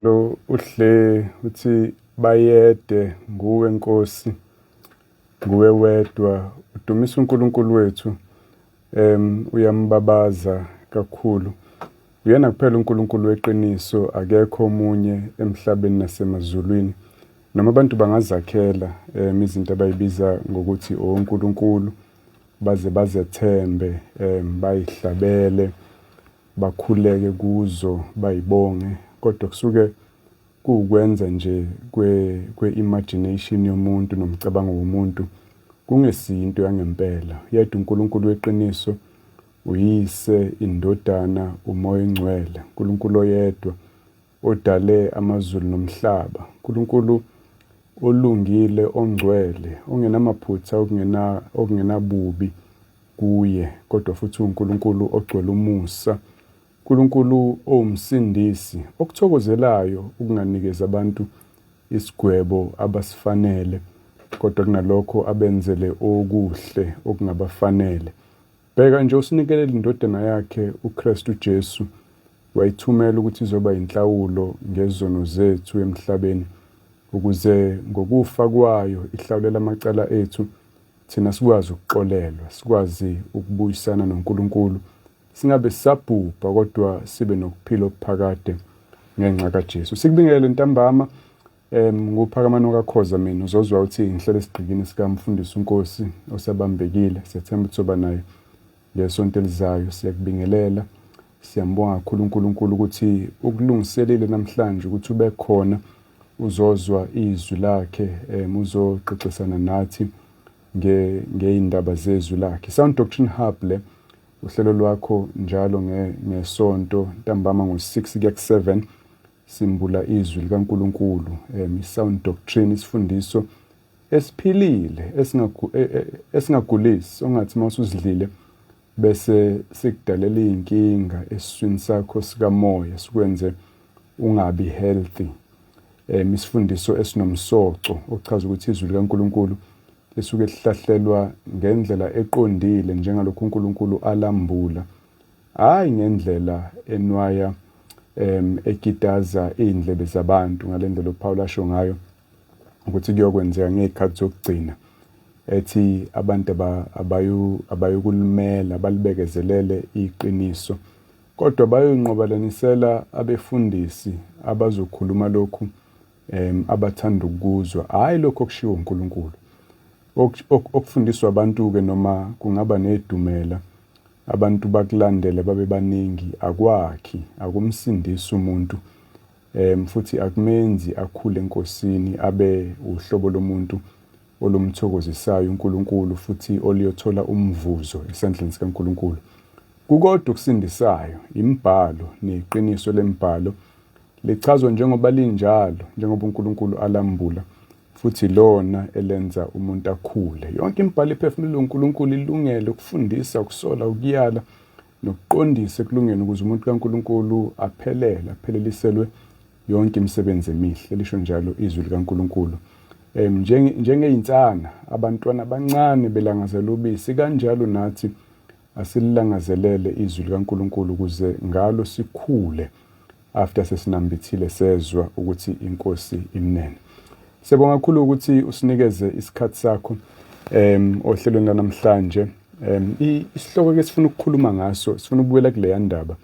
Lo uhle uthi bayede nguwe Nkosi nguwe wedwa udumisa uNkulunkulu wethu em uyambabaza kakhulu uyena kuphela uNkulunkulu weqiniso akekho omunye emhlabeni nasemazulwini noma abantu bangazakhela em izinto abayibiza ngokuthi oNkulunkulu baze bazethembe em bayihlabele bakhuleke kuzo bayibonge kodwa kusuke kuwukwenza nje kwe-imagination kwe yomuntu nomcabango womuntu kungesiyinto yangempela yedwa uNkulunkulu weqiniso uyise indodana umoya engcwele uNkulunkulu oyedwa Odale amazulu nomhlaba, uNkulunkulu olungile, ongcwele, ongenamaphutha, okungena okungenabubi kuye, kodwa futhi uNkulunkulu ogcwele umusa, uNkulunkulu owumsindisi, okuthokozelayo ukunganikezi abantu isigwebo abasifanele, kodwa kunalokho abenzele okuhle okungabafanele. Bheka nje, usinikelela iNdodana yakhe, uKristu uJesu, wayithumela ukuthi izoba yinhlawulo ngezono zethu emhlabeni, ukuze ngokufa kwayo ihlawulele amacala ethu, thina sikwazi ukuxolelwa, sikwazi ukubuyisana noNkulunkulu, singabe sisabhubha kodwa sibe nokuphila okuphakade ngenxa kaJesu. Sikubingelele ntambama, Um, nguphakamano kakhoza mina uzozwa ukuthi ngihlele esigqikini sikamfundisi unkosi osabambekile siyathemba ukuthi soba naye ngesonto elizayo siyakubingelela siyambonga kakhulu uNkulunkulu ukuthi ukulungiselile namhlanje ukuthi ube khona uzozwa izwi lakhe um uzoxoxisana nathi ngey'ndaba zezwi lakhe sound doctrine hub le uhlelo lwakho njalo ngesonto ntambama ngo-6 kuya ku-7 Simbula izwi likaNkulunkulu, um, i-sound doctrine, isifundiso esiphilile esingagu- e- e- esingagulisi ongathi uma usuzidlile bese sikudalela iy'nkinga esiswini sakho sikamoya sikwenze ungabi healthy um isifundiso esinomsoco okuchaza ukuthi izwi likaNkulunkulu lisuke lihlahlelwa ngendlela eqondile njengalokhu uNkulunkulu alambula Hayi ngendlela enwaya em ekitaza izindlebe zabantu ngalendlela uPaul asho ngayo ukuthi kuyokwenzeka ngezikhathi zokugcina ethi abantu abayu abayukulumela balibekezelele iqiniso kodwa bayonqobalanisela abefundisi abazokhuluma lokhu em abathanda ukuzwa hayi lokho kushiwo uNkulunkulu okufundiswa abantu ke noma kungaba nedumela Abantu bakulandele babe baningi akwakhi, akumsindisi umuntu um futhi akumenzi akhule enkosini abe uhlobo lomuntu olumthokozisayo uNkulunkulu futhi oluyothola umvuzo esandleni sikaNkulunkulu. Kukodwa okusindisayo, imibhalo neqiniso lembhalo lichazwa njengoba linjalo, njengoba uNkulunkulu alambula futhi lona elenza umuntu akhule. Yonke imibhalo ephefumulelwe uNkulunkulu ilungele ukufundisa, ukusola, ukuyala nokuqondisa ekulungeni ukuze umuntu kaNkulunkulu aphelele, apheleliselwe yonke imisebenzi emihle, lisho njalo izwi likaNkulunkulu. Um njengeyinsana abantwana abancane belangazela ubisi kanjalo nathi asilangazelele izwi likaNkulunkulu ukuze ngalo sikhule after sesinambithile sezwa ukuthi inkosi imnene siyabonga kakhulu ukuthi usinikeze isikhathi sakho em ohlelweni lanamhlanje em isihloko ke sifuna ukukhuluma ngaso sifuna ukubuyela kuleya ndaba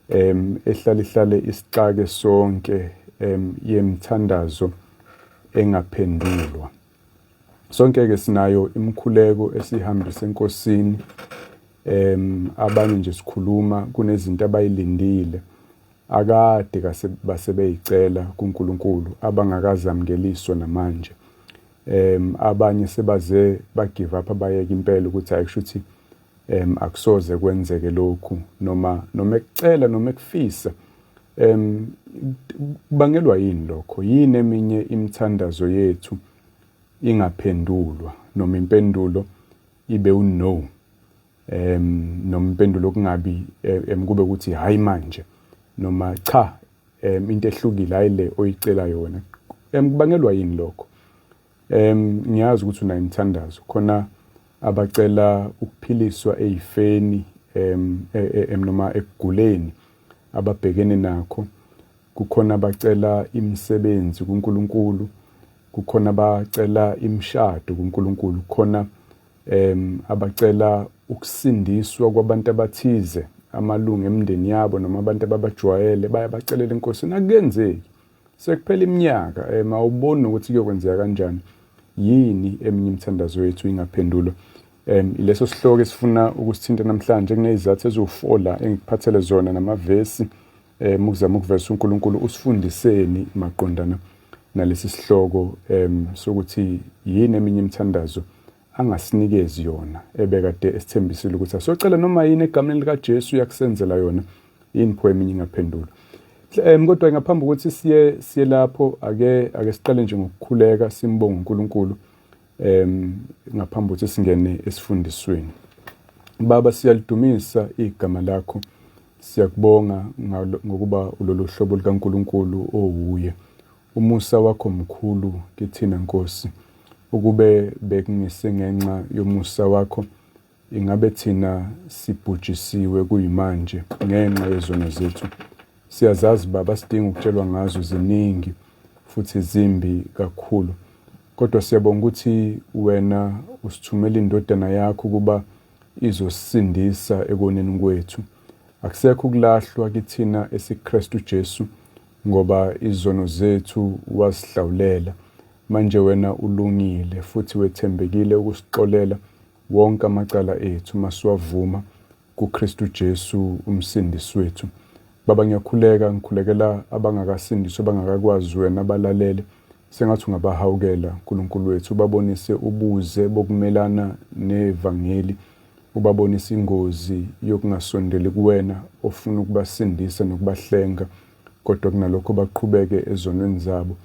em ehlale ihlale isixake sonke em yemthandazo engaphendulwa Sonke-ke sinayo imikhuleko esihambisa enkosini um abanye nje sikhuluma kunezinto abayilindile akade basebeyicela kuNkulunkulu abangakazamukeliswa namanje um abanye sebaze bagive up bayeke impela ukuthi ayikusho ukuthi em akusoze kwenzeke lokhu noma noma ekucela noma ekufisa em kubangelwa yini lokho yini eminye imithandazo yethu ingaphendulwa noma impendulo ibe uno em noma impendulo kungabi eh, em kube ukuthi hayi manje noma cha em into ehlukile ayile oyicelayo wena em kubangelwa yini lokho Em ngiyazi ukuthi unayo imithandazo khona abacela ukuphiliswa ezifeni em e, e, em noma ekuguleni ababhekene nakho kukhona abacela imisebenzi kuNkulunkulu kukhona abacela imishado kuNkulunkulu khona em abacela ukusindiswa kwabantu abathize amalungu emndeni yabo noma abantu ababajwayele bayabacelela enkosini akenzeki Sekuphela iminyaka um awuboni nokuthi kuyokwenzeka kanjani yini eminye imithandazo yethu ingaphendulwa um ileso sihloko esifuna ukusithinta namhlanje kunezizathu eziwufola engikuphathele zona namavesi um ukuzama ukuvesa unkulunkulu usifundiseni maqondana nalesi sihloko um sokuthi yini eminye imithandazo angasinikezi yona ebekade esithembisile ukuthi asiyocela noma yini egameni likaJesu uyakusenzela yona yini pho eminye ingaphendulwa um kodwa ngaphambi kokuthi siye siye lapho ake ake siqale nje ngokukhuleka simbonga uNkulunkulu um ngaphambi kokuthi singene esifundisweni baba siyalidumisa igama lakho siyakubonga ngokuba ulolu hlobo likaNkulunkulu owuye Umusa wakho mkhulu kithina Nkosi. Ukube bekungesengenxa yomusa wakho ingabe thina sibhujisiwe kuyimanje ngenxa yezono zethu. Siyazazi Baba sidinga ukutshelwa ngazo ziningi futhi zimbi kakhulu. Kodwa siyabonga ukuthi wena usithumela indodana yakho kuba izosindisa ekoneni kwethu. Akusekho ukulahlwa kithina esiKristu Jesu Ngoba izono zethu wazihlawulela, manje wena ulungile futhi wethembekile ukusixolela wonke amacala ethu masiwavuma kuKristu Jesu uMsindisi wethu. Baba ngiyakhuleka, ngikhulekela abangakasindiswa abangakakwazi wena balalele sengathi ungabahawukela Nkulunkulu wethu ubabonise ubuze bokumelana nevangeli ubabonisa ingozi yokungasondeli kuwena ofuna ukubasindisa nokubahlenga, kodwa kunalokho baqhubeke ezonweni zabo.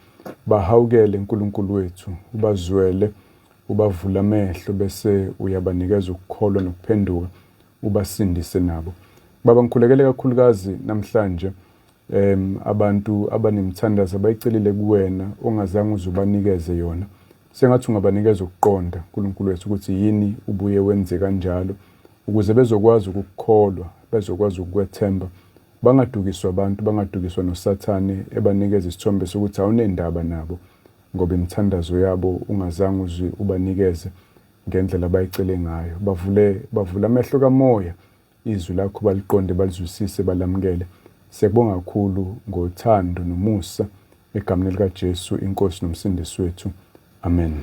Bahawukele, Nkulunkulu wethu, ubazwele, ubavule amehlo bese uyabanikeza ukukholwa nokuphenduka, ubasindise nabo. Baba, ngikhulekele kakhulukazi namhlanje um abantu abanemthandazo abayicelile kuwena ongazange uzubanikeze yona Sengathi ungabanikeza ukuqonda, Nkulunkulu wethu, ukuthi yini ubuye wenze kanjalo, ukuze bezokwazi ukukukholwa, bezokwazi ukukwethemba, bangadukiswa abantu, bangadukiswa noSathane ebanikeza isithombe sokuthi awunendaba nabo, ngoba imithandazo yabo ungazange uzwi ubanikeze ngendlela abayicele ngayo. Bavule, bavule amehlo kamoya, izwi lakho baliqonde balizwisise balamukele siyakubonga kakhulu ngothando nomusa egameni likaJesu inkosi nomsindisi wethu amen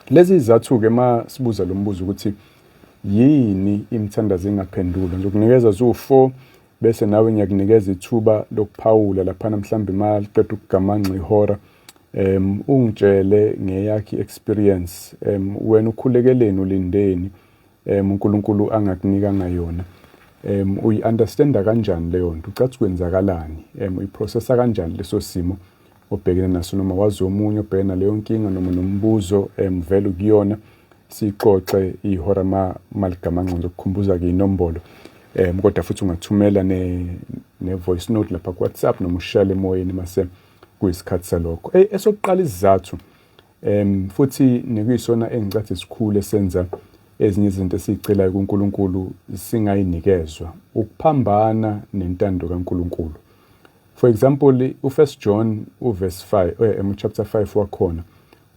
lezi izathu ke ma sibuza lo mbuzo ukuthi yini imithandazo engaphendulwa ngizokunikeza zu-4 bese nawe ngiyakunikeza ithuba lokuphawula laphana mhlawumbe uma liqeda ukugamanxa ihora um ungitshele ngeyakhe i-experience um wena ukhulekeleni ulindeni um uNkulunkulu angakunikanga yona um uyi-understanda kanjani leyo nto ucathi kwenzakalani um uyiprocessa kanjani leso simo obhekene naso noma wazi omunye obhekene naleyo nkinga noma nombuzo um vele ukuyona sixoxe ihora ma maligama ngcono ukukhumbuza ke inombolo um kodwa futhi ungathumela ne-voice note lapha kuwhatsapp noma ushayele emoyeni mase kuyisikhathi salokho esokuqala isizathu Um futhi nekuyisona engicathi sikhulu esenza ezinye izinto esizicelayo kuNkulunkulu singayinikezwa ukuphambana nentando kaNkulunkulu. For example, uFirst John uverse 5 eh, em chapter 5 wakhona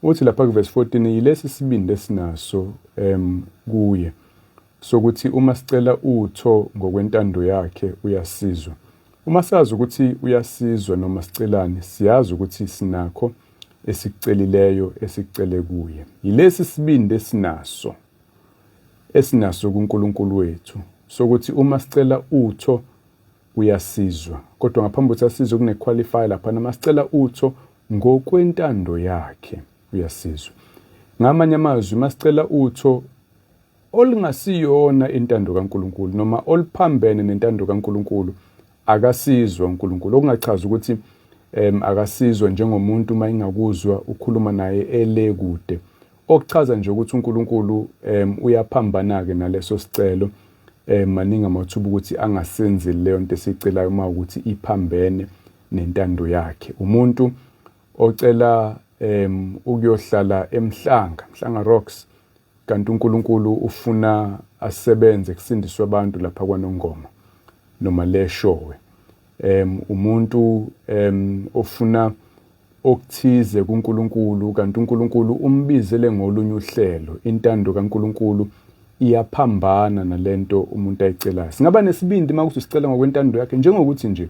uthi lapha kuverse 14 yilesi sibindi esinaso um kuye sokuthi uma sicela utho ngokwentando yakhe uyasizwa. Uma sazi ukuthi uyasizwa noma sicelani, siyazi ukuthi sinakho esikucelileyo esicele kuye. Yilesi sibindi esinaso esinaso kuNkulunkulu wethu sokuthi uma sicela utho uyasizwa kodwa ngaphambi kokuthi asizwe kune-qualifier lapha nama sicela utho ngokwentando yakhe uyasizwa ngamanye amazwi masicela utho olungasiyona intando kaNkulunkulu noma oluphambene nentando kaNkulunkulu akasizwa uNkulunkulu okungachaza ukuthi um akasizwa njengomuntu uma ingakuzwa ukhuluma naye ele kude okuchaza nje ukuthi uNkulunkulu um uyaphambana-ke naleso sicelo um maningi amathuba ukuthi angasenzi leyo nto esiyicelayo uma ukuthi iphambene nentando yakhe umuntu ocela um ukuyohlala emhlanga mhlanga rocks Kanti uNkulunkulu ufuna asebenze kusindiswe abantu lapha kwaNongoma noma leshowe. Um umuntu um ofuna okuthize kuNkulunkulu kanti uNkulunkulu umbizele ngolunye uhlelo. Intando kaNkulunkulu iyaphambana nalento umuntu ayicelayo. Singaba nesibindi uma kuthi sicela ngokwentando yakhe njengokuthi nje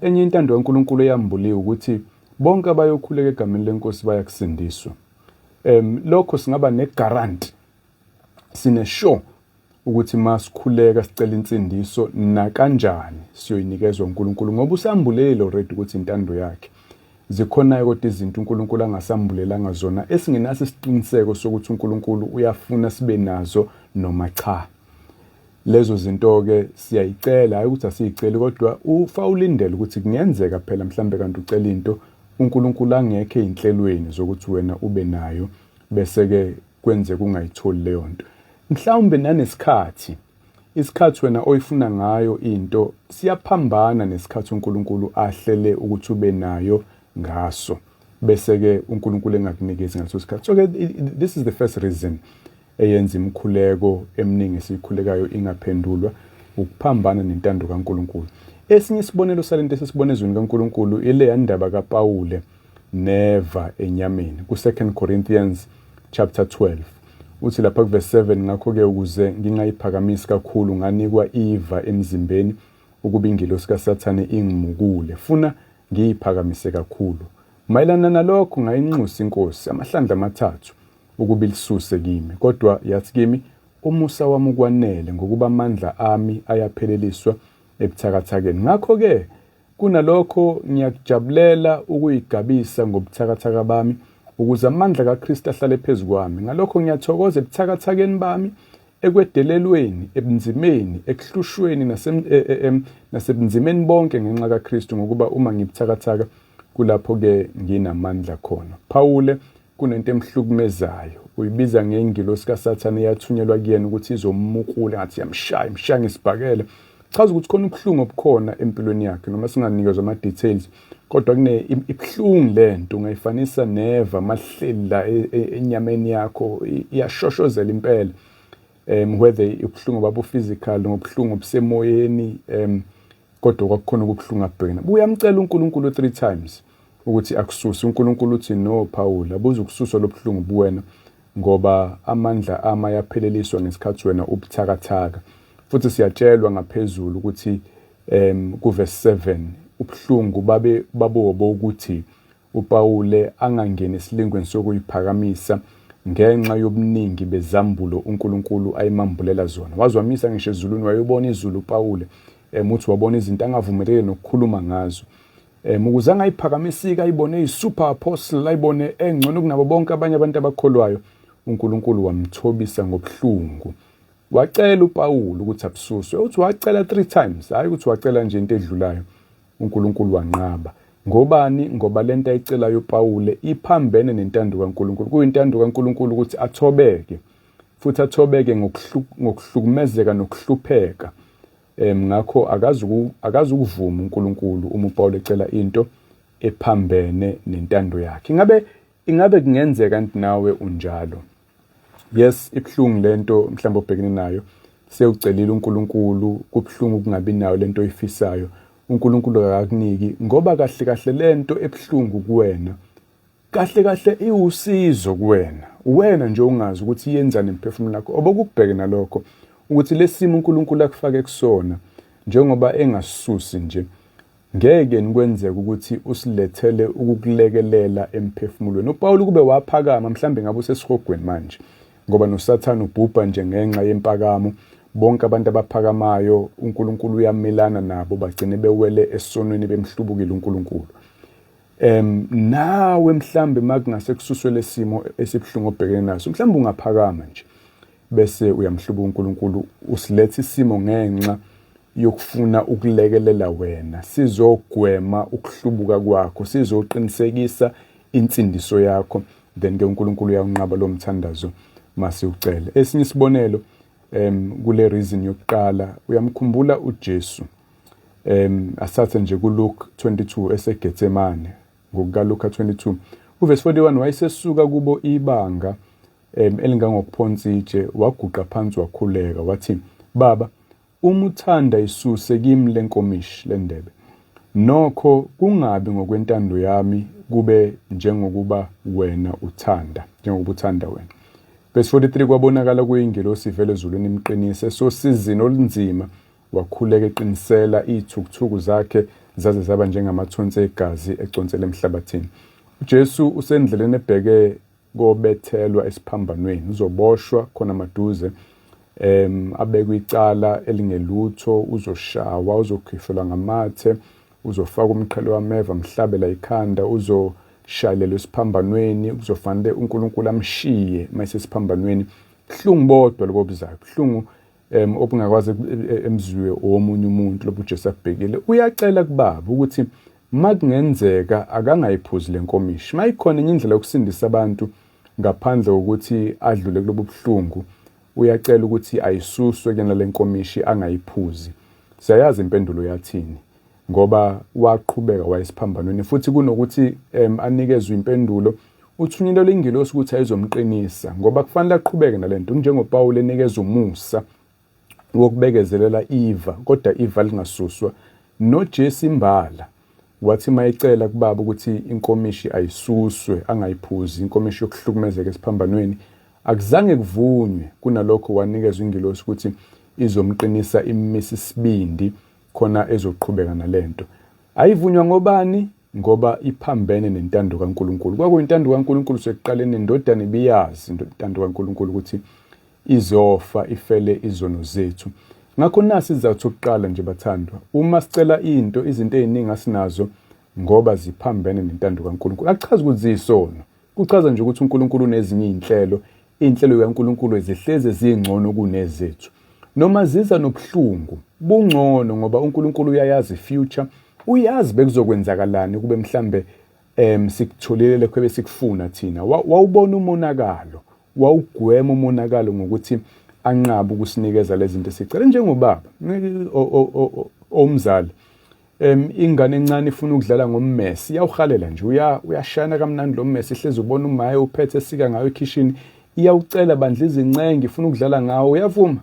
enye intando kaNkulunkulu eyambuliwe ukuthi bonke abayokhuleka egameni lenkosi bayakusindiswa. um lokho singaba negaranti sine sure ukuthi masikhuleka sicela insindiso nakanjani siyoyinikezwa uNkulunkulu ngoba usambulele already ukuthi intando yakhe zikhona kodwa izinto uNkulunkulu angasambulelanga zona esingenaso isiqiniseko sokuthi uNkulunkulu uyafuna sibe nazo noma cha lezo zinto ke siyayicela hayi ukuthi asiyiceli kodwa ufa ulindele ukuthi kungenzeka phela mhlambe kanti ucela into uNkulunkulu angekho ezinhlelweni zokuthi wena ube nayo bese ke kwenze kungayitholi leyo nto mhlawumbe nanesikhathi isikhathi wena oyifuna ngayo into siyaphambana nesikhathi uNkulunkulu ahlele ukuthi ube nayo ngaso bese ke uNkulunkulu engakunikezi ngaso isikhathi so ke this is the first reason eyenza imikhuleko eminingi esiyikhulekayo ingaphendulwa ukuphambana nentando kaNkulunkulu esinye isibonelo salento esisibona ezweni kaNkulunkulu ileya ndaba kaPawule neva enyameni ku-2 Corinthians chapter 12 uthi lapha kuverse 7 ngakho-ke ukuze ngingayiphakamisi kakhulu nganikwa iva emzimbeni ukuba ingilosi kasathane ingimukule funa ngiyiphakamise kakhulu mayelana nalokho ngayinxusa inkosi amahlandla amathathu ukuba ilisuse kimi. Kodwa yathi kimi, Umusa wami ukwanele, ngokuba amandla ami ayapheleliswa ebuthakathakeni. Ngakho-ke, kunalokho ngiyakujabulela ukuyigabisa ngobuthakathaka bami, ukuze amandla kaKristu ahlale phezu kwami. Ngalokho ngiyathokoza ebuthakathakeni bami, ekwedelelweni, ebunzimeni, ekuhlushweni e, e, e, nasebunzimeni bonke ngenxa kaKristu, ngokuba uma ngibuthakathaka kulapho-ke nginamandla khona. Phawule kunento emhlukumezayo uyibiza ngengilosi kasathane eyathunyelwa kuyena ukuthi izomukula ngathi yamshaya imshaya ngesibhakela chaza ukuthi khona ubuhlungu obukhona empilweni yakhe noma singanikezwa ama-details kodwa kune ibuhlungu le nto ungayifanisa neva amahleli la e, e, enyameni yakho iyashoshozela impela um whether ubuhlungu babu-physical ngobuhlungu obusemoyeni um kodwa kwakukhona okubuhlungu abhekene buyamcela uNkulunkulu three times ukuthi akususe uNkulunkulu uthi no Paul abuze ukususwa lobuhlungu buwena ngoba amandla ama yapheleliswa ngesikhathi wena ubuthakathaka futhi siyatshelwa ngaphezulu ukuthi em kuverse 7 ubuhlungu babe babobo ukuthi uPawule angangeni esilingweni sokuyiphakamisa ngenxa yobuningi bezambulo uNkulunkulu ayimambulela zona. Wazwamisa ngisho ezulwini wayobona izulu uPawule um uthi wabona izinto angavumelekile nokukhuluma ngazo. Um ukuze angayiphakamisika ayibone eyi-super apostle ayibone engcono kunabo bonke abanye abantu abakholwayo uNkulunkulu wamthobisa ngobuhlungu. Wacela uPawulu ukuthi abususwe. Uthi wacela three times, hhayi ukuthi wacela nje into edlulayo. uNkulunkulu wanqaba. Ngobani? Ngoba le nto ayicelayo uPawule iphambene nentando kaNkulunkulu. Kuyintando kaNkulunkulu ukuthi athobeke, futhi athobeke ngokuhlukumezeka nokuhlupheka. Um ngakho akazi ukuvuma uNkulunkulu uma uPawule ecela into ephambene nentando yakhe. Ingabe ingabe kungenzeka nti nawe unjalo? yes ibuhlungu lento mhlawumbe obhekene nayo sewucelile uNkulunkulu kubuhlungu ukungabi nayo lento oyifisayo uNkulunkulu akakuniki ngoba kahle kahle lento ebuhlungu kuwena kahle kahle iwusizo kuwena uwena nje ungazi ukuthi yenzani emphefumulo lakho obokubheke nalokho ukuthi lesimo uNkulunkulu akufake kusona njengoba engasusi nje Ngeke nikwenzeke ukuthi usilethele ukukulekelela emphefumulweni. UPawulu kube waphakama, mhlawumbe ngabe usesihogweni manje, ngoba noSathane ubhubha nje ngenxa yempakamo. Bonke abantu abaphakamayo, uNkulunkulu uyamelana nabo, bagcine bewele esonweni bemhlubukile uNkulunkulu. Um nawe mhlawumbe uma kungase kususwe lesimo esibuhlungu obhekene naso, mhlawumbe ungaphakama nje. bese uyamhluba uNkulunkulu usiletha isimo ngenxa yokufuna ukulekelela wena sizogwema ukuhlubuka kwakho sizoqinisekisa insindiso yakho then ke uNkulunkulu uyakunqaba lo mthandazo mase ucele esinye isibonelo em kule reason yokuqala uyamkhumbula uJesu em asathe nje kuLuke 22 eseGetsemane ngokukaLuka 22 uvesi 41 wayesesuka kubo ibanga um elingangokuphonsa itshe waguqa phansi wakhuleka wathi baba uma uthanda isuse kimi lenkomishi lendebe nokho kungabi ngokwentando yami kube njengokuba wena uthanda njengoba uthanda wena verse 43 kwabonakala kuyingelosi ivele ezulwini imqinise sosizini olunzima wakhuleka eqinisela iy'thukuthuku zakhe zaze zaba njengamathonsi egazi econsela emhlabathini ujesu usendleleni ebheke kobethelwa esiphambanweni uzoboshwa khona maduze em abekwe icala elingelutho uzoshawa uzokhishwa ngamathe uzofaka umqhele wameva mhlabela ikhanda uzoshayelelwa esiphambanweni kuzofanele uNkulunkulu amshiye mayesesiphambanweni buhlungu bodwa lobo buzayo buhlungu um obungakwazi e, e, emzwiwe owomunye umuntu lobu Jesu akubhekile uyacela kubaba ukuthi makungenzeka akangayiphuzi lenkomishi mayikhona enye indlela yokusindisa abantu ngaphandle kokuthi adlule kulobu buhlungu uyacela ukuthi ayisuswe kena lenkomishi angayiphuzi siyayazi impendulo yathini ngoba waqhubeka wayesiphambanweni futhi kunokuthi um, anikezwe impendulo uthunyelelwe ingelosi ukuthi ayizomqinisa ngoba kufanele aqhubeke nale nto njengopawule enikeza umusa wokubekezelela iva kodwa iva lingasuswa nojesu imbala wathi uma ecela kubaba ukuthi inkomishi ayisuswe angayiphuzi inkomishi yokuhlukumezeka esiphambanweni akuzange kuvunywe kunalokho wanikezwa ingelosi ukuthi izomqinisa immisa isibindi khona ezoqhubeka nalento ayivunywa ngobani ngoba iphambene nentando kaNkuluNkulu kwakuyintando kaNkuluNkulu sekuqaleni indodana ibiyazi intando kaNkuluNkulu ukuthi izofa ifele izono zethu ngakho nasi izizathu sokuqala nje bathandwa uma sicela into izinto eziningi asinazo ngoba ziphambene nentando kaNkuluNkulu akuchazi ukuthi ziyisono kuchaza nje ukuthi uNkuluNkulu unezinye izinhlelo Iy'nhlelo zikaNkulunkulu zihleze zingcono kunezethu. Noma ziza nobuhlungu, bungcono ngoba uNkulunkulu uyayazi i-future, uyazi bekuzokwenzakalani kube mhlambe um sikutholile lekho ebesikufuna thina. Wawubona umonakalo, wawugwema umonakalo ngokuthi anqabe ukusinikeza lezi zinto esicela njengobaba owumzali. Um ingane encane ifuna ukudlala ngommesi iyawuhalela nje uya uyashana kamnandi lo mmesi ihlezi ubona umaye uphethe esika ngayo ekhishini iyawucela bandla izincenge ifuna ukudlala ngawo uyavuma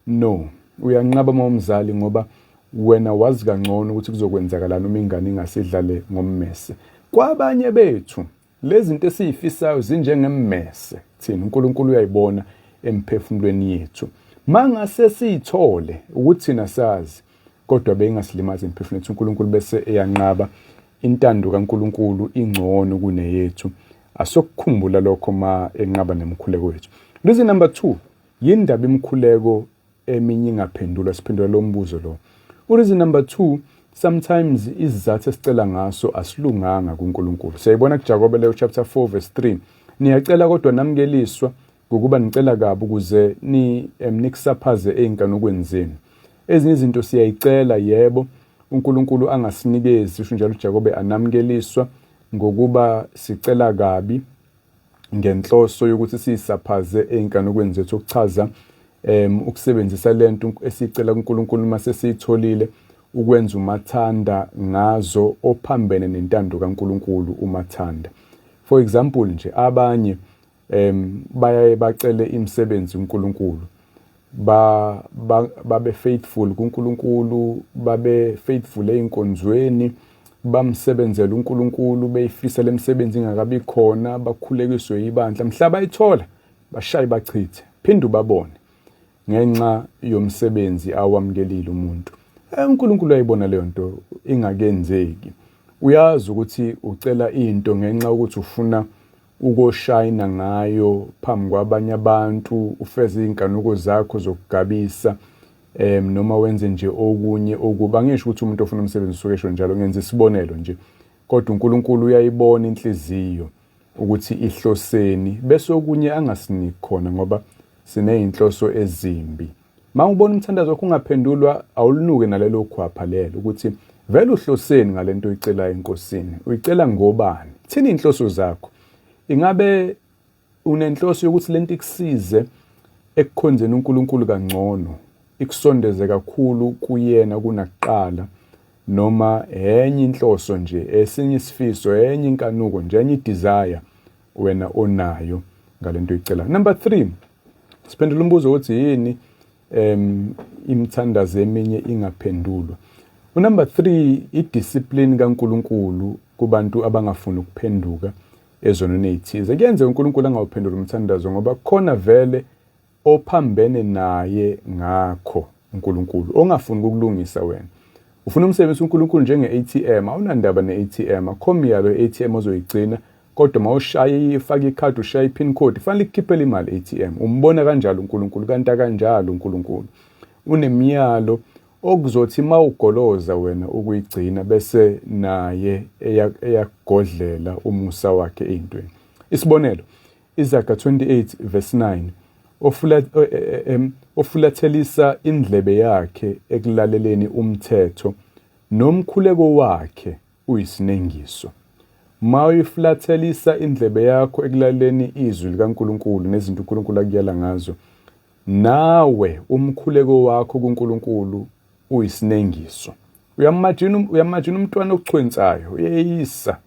no uyanqaba uma umzali ngoba wena wazi kangcono ukuthi kuzokwenzakalani uma ingane ingasidlale ngommese kwabanye bethu Lezi zinto esiyifisayo zinjengemmese thina uNkulunkulu uyayibona emphefumulweni yethu. Mangase siyithole ukuthi thina sazi kodwa beyingasilimazi emphefumulweni yethu uNkulunkulu bese eyanqaba intando kaNkulunkulu ingcono kuneyethu. Asokukhumbula lokho ma enqaba nemkhuleko yethu. Reason number 2 yindaba imkhuleko eminye ingaphendulwa siphendula lo mbuzo lo ureason number 2 sometimes izizathu esicela ngaso asilunganga kuNkulunkulu siyayibona kuJakobe leyo chapter 4 verse 3 niyacela kodwa namkeliswa ngokuba nicela kabi ukuze ni emnikusaphaze ezinkanukweni zenu ezinye izinto siyayicela yebo uNkulunkulu angasinikezi usho njalo uJakobe anamkeliswa ngokuba sicela kabi ngenhloso yokuthi siyisaphaze ey'nkanukweni zethu okuchaza um ukusebenzisa le nto esiyicela kuNkulunkulu uma sesiyitholile ukwenza umathanda ngazo ophambene nentando kaNkulunkulu umathanda for example nje abanye um bayaye bacele imisebenzi uNkulunkulu ba babe faithful kuNkulunkulu babe faithful einkonzweni bamsebenzela uNkulunkulu beyifisa lemsebenzi ingakabi khona bakhulekiswe ibandla mhlaba ithola bashaye bachithe phinde ubabone ngenxa yomsebenzi awamkelile umuntu eh, uNkulunkulu ayibona leyo nto ingakenzeki uyazi ukuthi ucela into ngenxa ukuthi ufuna ukoshayina ngayo phambi kwabanye abantu ufeze izinkanuko zakho zokugabisa em noma wenze nje okunye okuba ngisho ukuthi umuntu ofuna umsebenzi usuke esho njalo ngenza isibonelo nje kodwa uNkulunkulu uyayibona inhliziyo ukuthi ihloseni bese okunye angasiniki khona ngoba sinezinhloso ezimbi Uma ubona umthandazo wakho ungaphendulwa awulunuke nalelo khwapha lelo ukuthi vele uhloseni ngale nto uyicelayo enkosini uyicela ngobani thini iy'nhloso zakho ingabe unenhloso yokuthi le nto ikusize ekukhonzeni unkulunkulu kangcono ikusondeze kakhulu kuyena kunakuqala noma enye inhloso nje esinye isifiso enye inkanuko nje enye idesire wena onayo ngalento oyicelayo number 3 siphendula umbuzo ukuthi yini em imthandazo eminye ingaphendulwa unumber 3 idiscipline kaNkuluNkulu kubantu abangafuni ukuphenduka ezonweni ezithize kuyenzeka uNkuluNkulu angawuphendula umthandazo ngoba khona vele ophambene naye ngakho uNkulunkulu ongafuni ukukulungisa wena ufuna umsebenzi uNkulunkulu njenge-ATM awunandaba ne-ATM akho myalo e-ATM ozoyigcina kodwa mawushaye ifake ikhadi ushaya i-pin code fanele ikukhiphele imali e-ATM umbona kanjalo uNkulunkulu kanti akanjalo uNkulunkulu unemiyalo okuzothi mawugoloza wena ukuyigcina bese naye eyagodlela umusa wakhe ezintweni isibonelo Izaga 28 verse 9 ofula, um, ofulathelisa indlebe yakhe ekulaleleni umthetho nomkhuleko wakhe uyisinengiso ma uyifulathelisa indlebe yakho ekulaleleni izwi likaNkuluNkulu nezinto uNkuluNkulu akuyala ngazo nawe umkhuleko wakho kuNkuluNkulu uyisinengiso uyamajina um, uyamajina umntwana ochwensayo uyeyisa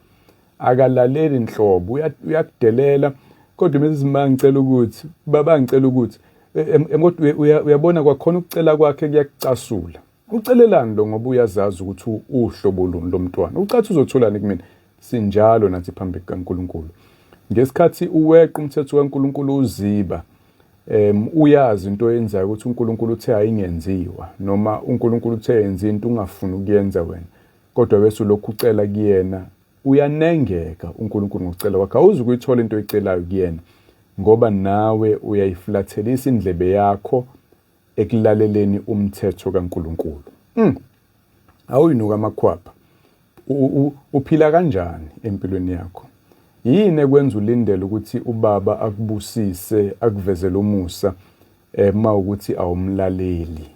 akalaleli nhlobo uyakudelela kodwa mrs ma ngicela ukuthi baba ngicela ukuthi kodwa e, e, uyabona kwakhona ukucela kwakhe kuyakucasula ucelelani lo ngoba uyazazi ukuthi uhlobo luni lomntwana ucathi uzotholani kumina Sinjalo nathi phambi kukaNkulunkulu. Ngesikhathi uweqa umthetho kaNkulunkulu uziba um uyazi into oyenzayo ukuthi uNkulunkulu uthe ayingenziwa noma uNkulunkulu uthe yenza into ungafuni ukuyenza wena kodwa bese ulokhu ucela kuyena uyanengeka uNkulunkulu ngokucela kwakhe awuzi ukuyithola into oyicelayo kuyena ngoba nawe uyayiflathelisa indlebe yakho ekulaleleni umthetho kaNkulunkulu. Mm. Awuyinuka amakhwapha. Uphila kanjani empilweni yakho? Yini ekwenza ulindele ukuthi ubaba akubusise akuvezele umusa eh uma ukuthi awumlaleli?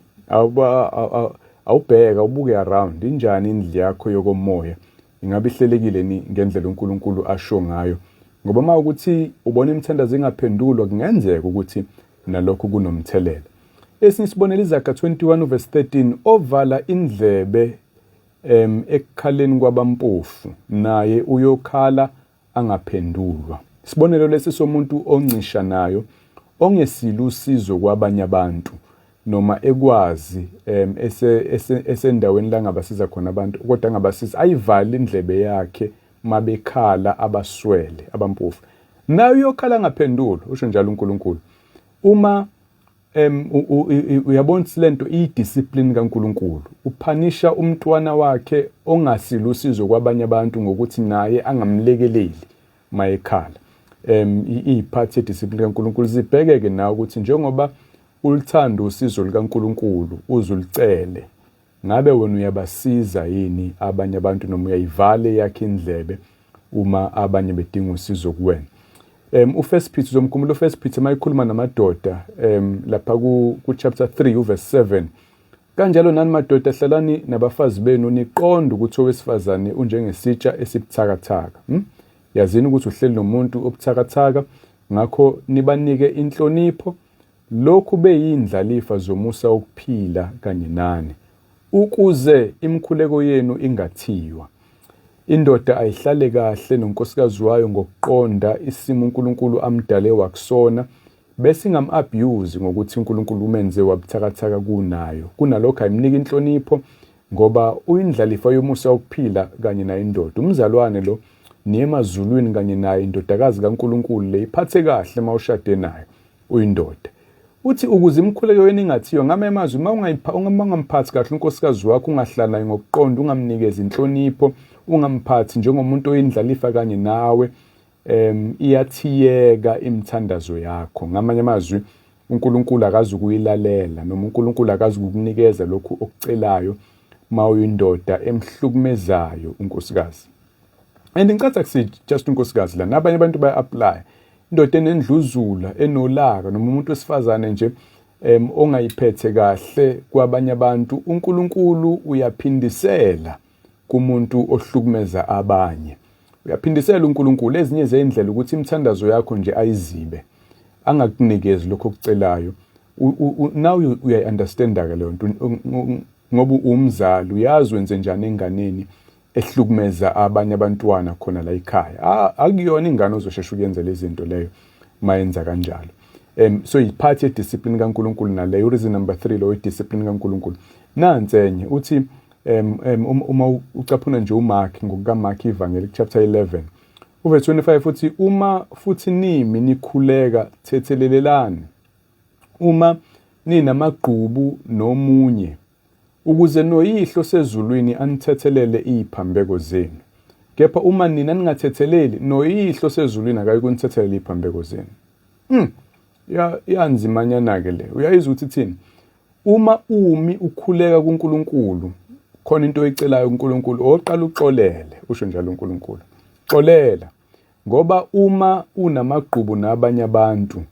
Awubheka ubuke around injani indlu yakho yokomoya? Ingabe ihlelekile ni ngendlela uNkulunkulu asho ngayo? Ngoba uma ukuthi ubona imithandazo ingaphendulwa kungenzeka ukuthi nalokhu kunomthelela. Esinye isibonelo iZaga 21 uvesi 13 ovala indlebe um ekukhaleni kwabampofu naye uyokhala angaphendulwa. Isibonelo lesi somuntu oncisha nayo ongesile usizo kwabanye abantu noma ekwazi um esendaweni la ngabasiza khona abantu kodwa angabasiza ayivale indlebe yakhe mabekhala abaswele abampofu. naye uyokhala angaphenduli usho njalo uNkulunkulu uma em uyabona silento idiscipline kaNkuluNkulu uphanisha umntwana wakhe ongasilusizo kwabanye abantu ngokuthi naye angamlekeleli mayekhala em iphathi ediscipline kaNkuluNkulu zibhekeke nawe ukuthi njengoba ulithanda usizo likaNkuluNkulu uzulicele Ngabe wena uyabasiza yini abanye abantu noma uyayivale yakhe indlebe uma abanye bedinga usizo kuwena um ufirst peter uzomkhumbula ufirst peter uma ikhuluma namadoda um lapha ku-chapter 3 uverse 7 kanjalo nani madoda hlalani nabafazi benu niqonde ukuthi owesifazane unjengesitsha esibuthakathaka hmm? yazini ukuthi uhleli nomuntu obuthakathaka ngakho nibanike inhlonipho Lokhu beyiyindlalifa zomusa wokuphila kanye nani, ukuze imikhuleko yenu ingathiywa. Indoda ayihlale kahle nonkosikazi wayo ngokuqonda isimo uNkulunkulu amdale wakusona, bese ingam-abuse ngokuthi uNkulunkulu umenze wabuthakathaka kunayo. Kunalokho ayimnike inhlonipho, ngoba uyindlalifa yomusa wokuphila kanye naye indoda umzalwane lo niye emazulwini kanye naye indodakazi kaNkulunkulu le iphathe kahle uma ushade nayo uyindoda uthi ukuze imkhuleke wena ingathiyo ngame amazwi uma ungayipha ungamphathi kahle unkosikazi wakho ungahlala naye ngokuqonda ungamnikezi inhlonipho ungamphathi njengomuntu oyindlalifa kanye nawe um iyathiyeka imithandazo yakho ngamanye amazwi uNkulunkulu akazi ukuyilalela noma uNkulunkulu akazi ukukunikeza lokhu okucelayo uma uyindoda emhlukumezayo unkosikazi and ngicatha kusithi just unkosikazi la nabanye abantu baya-aplya indoda enendluzula enolaka noma umuntu wesifazane nje um ongayiphethe kahle kwabanye abantu unkulunkulu uyaphindisela kumuntu ohlukumeza abanye. Uyaphindisela uNkulunkulu ezinye zeyindlela ukuthi imithandazo yakho nje ayizibe angakunikezi lokho okucelayo. Now uyayi-understanda ke leyo nto ngoba umzali uyazi wenze njani enganeni ehlukumeza abanye abantwana khona la ekhaya. Akuyona ingane ozoshesha ukuyenza lezi zinto leyo mayenza kanjalo. Um so yiphathi yediscipline kaNkulunkulu naleyo reason number 3 loyo discipline kaNkulunkulu. Nansi enye uthi um, um, um uma ucaphuna nje umark ngokukamark ivangeli chapter 11 uverse 25 futhi uma futhi nimi nikhuleka thethelelelani uma ninamagqubu nomunye ukuze noyihlo sezulwini anithethelele iziphambeko zenu kepha uma nina ningathetheleli noyihlo sezulwini akayi kunithethelela iziphambeko zenu mm. yanzimanyana-ke le uyayizwa ukuthi thini Uma umi ukhuleka kuNkulunkulu khona into oyicelayo kuNkulunkulu oqala uxolele usho njalo uNkulunkulu xolela ngoba uma unamagqubu nabanye abantu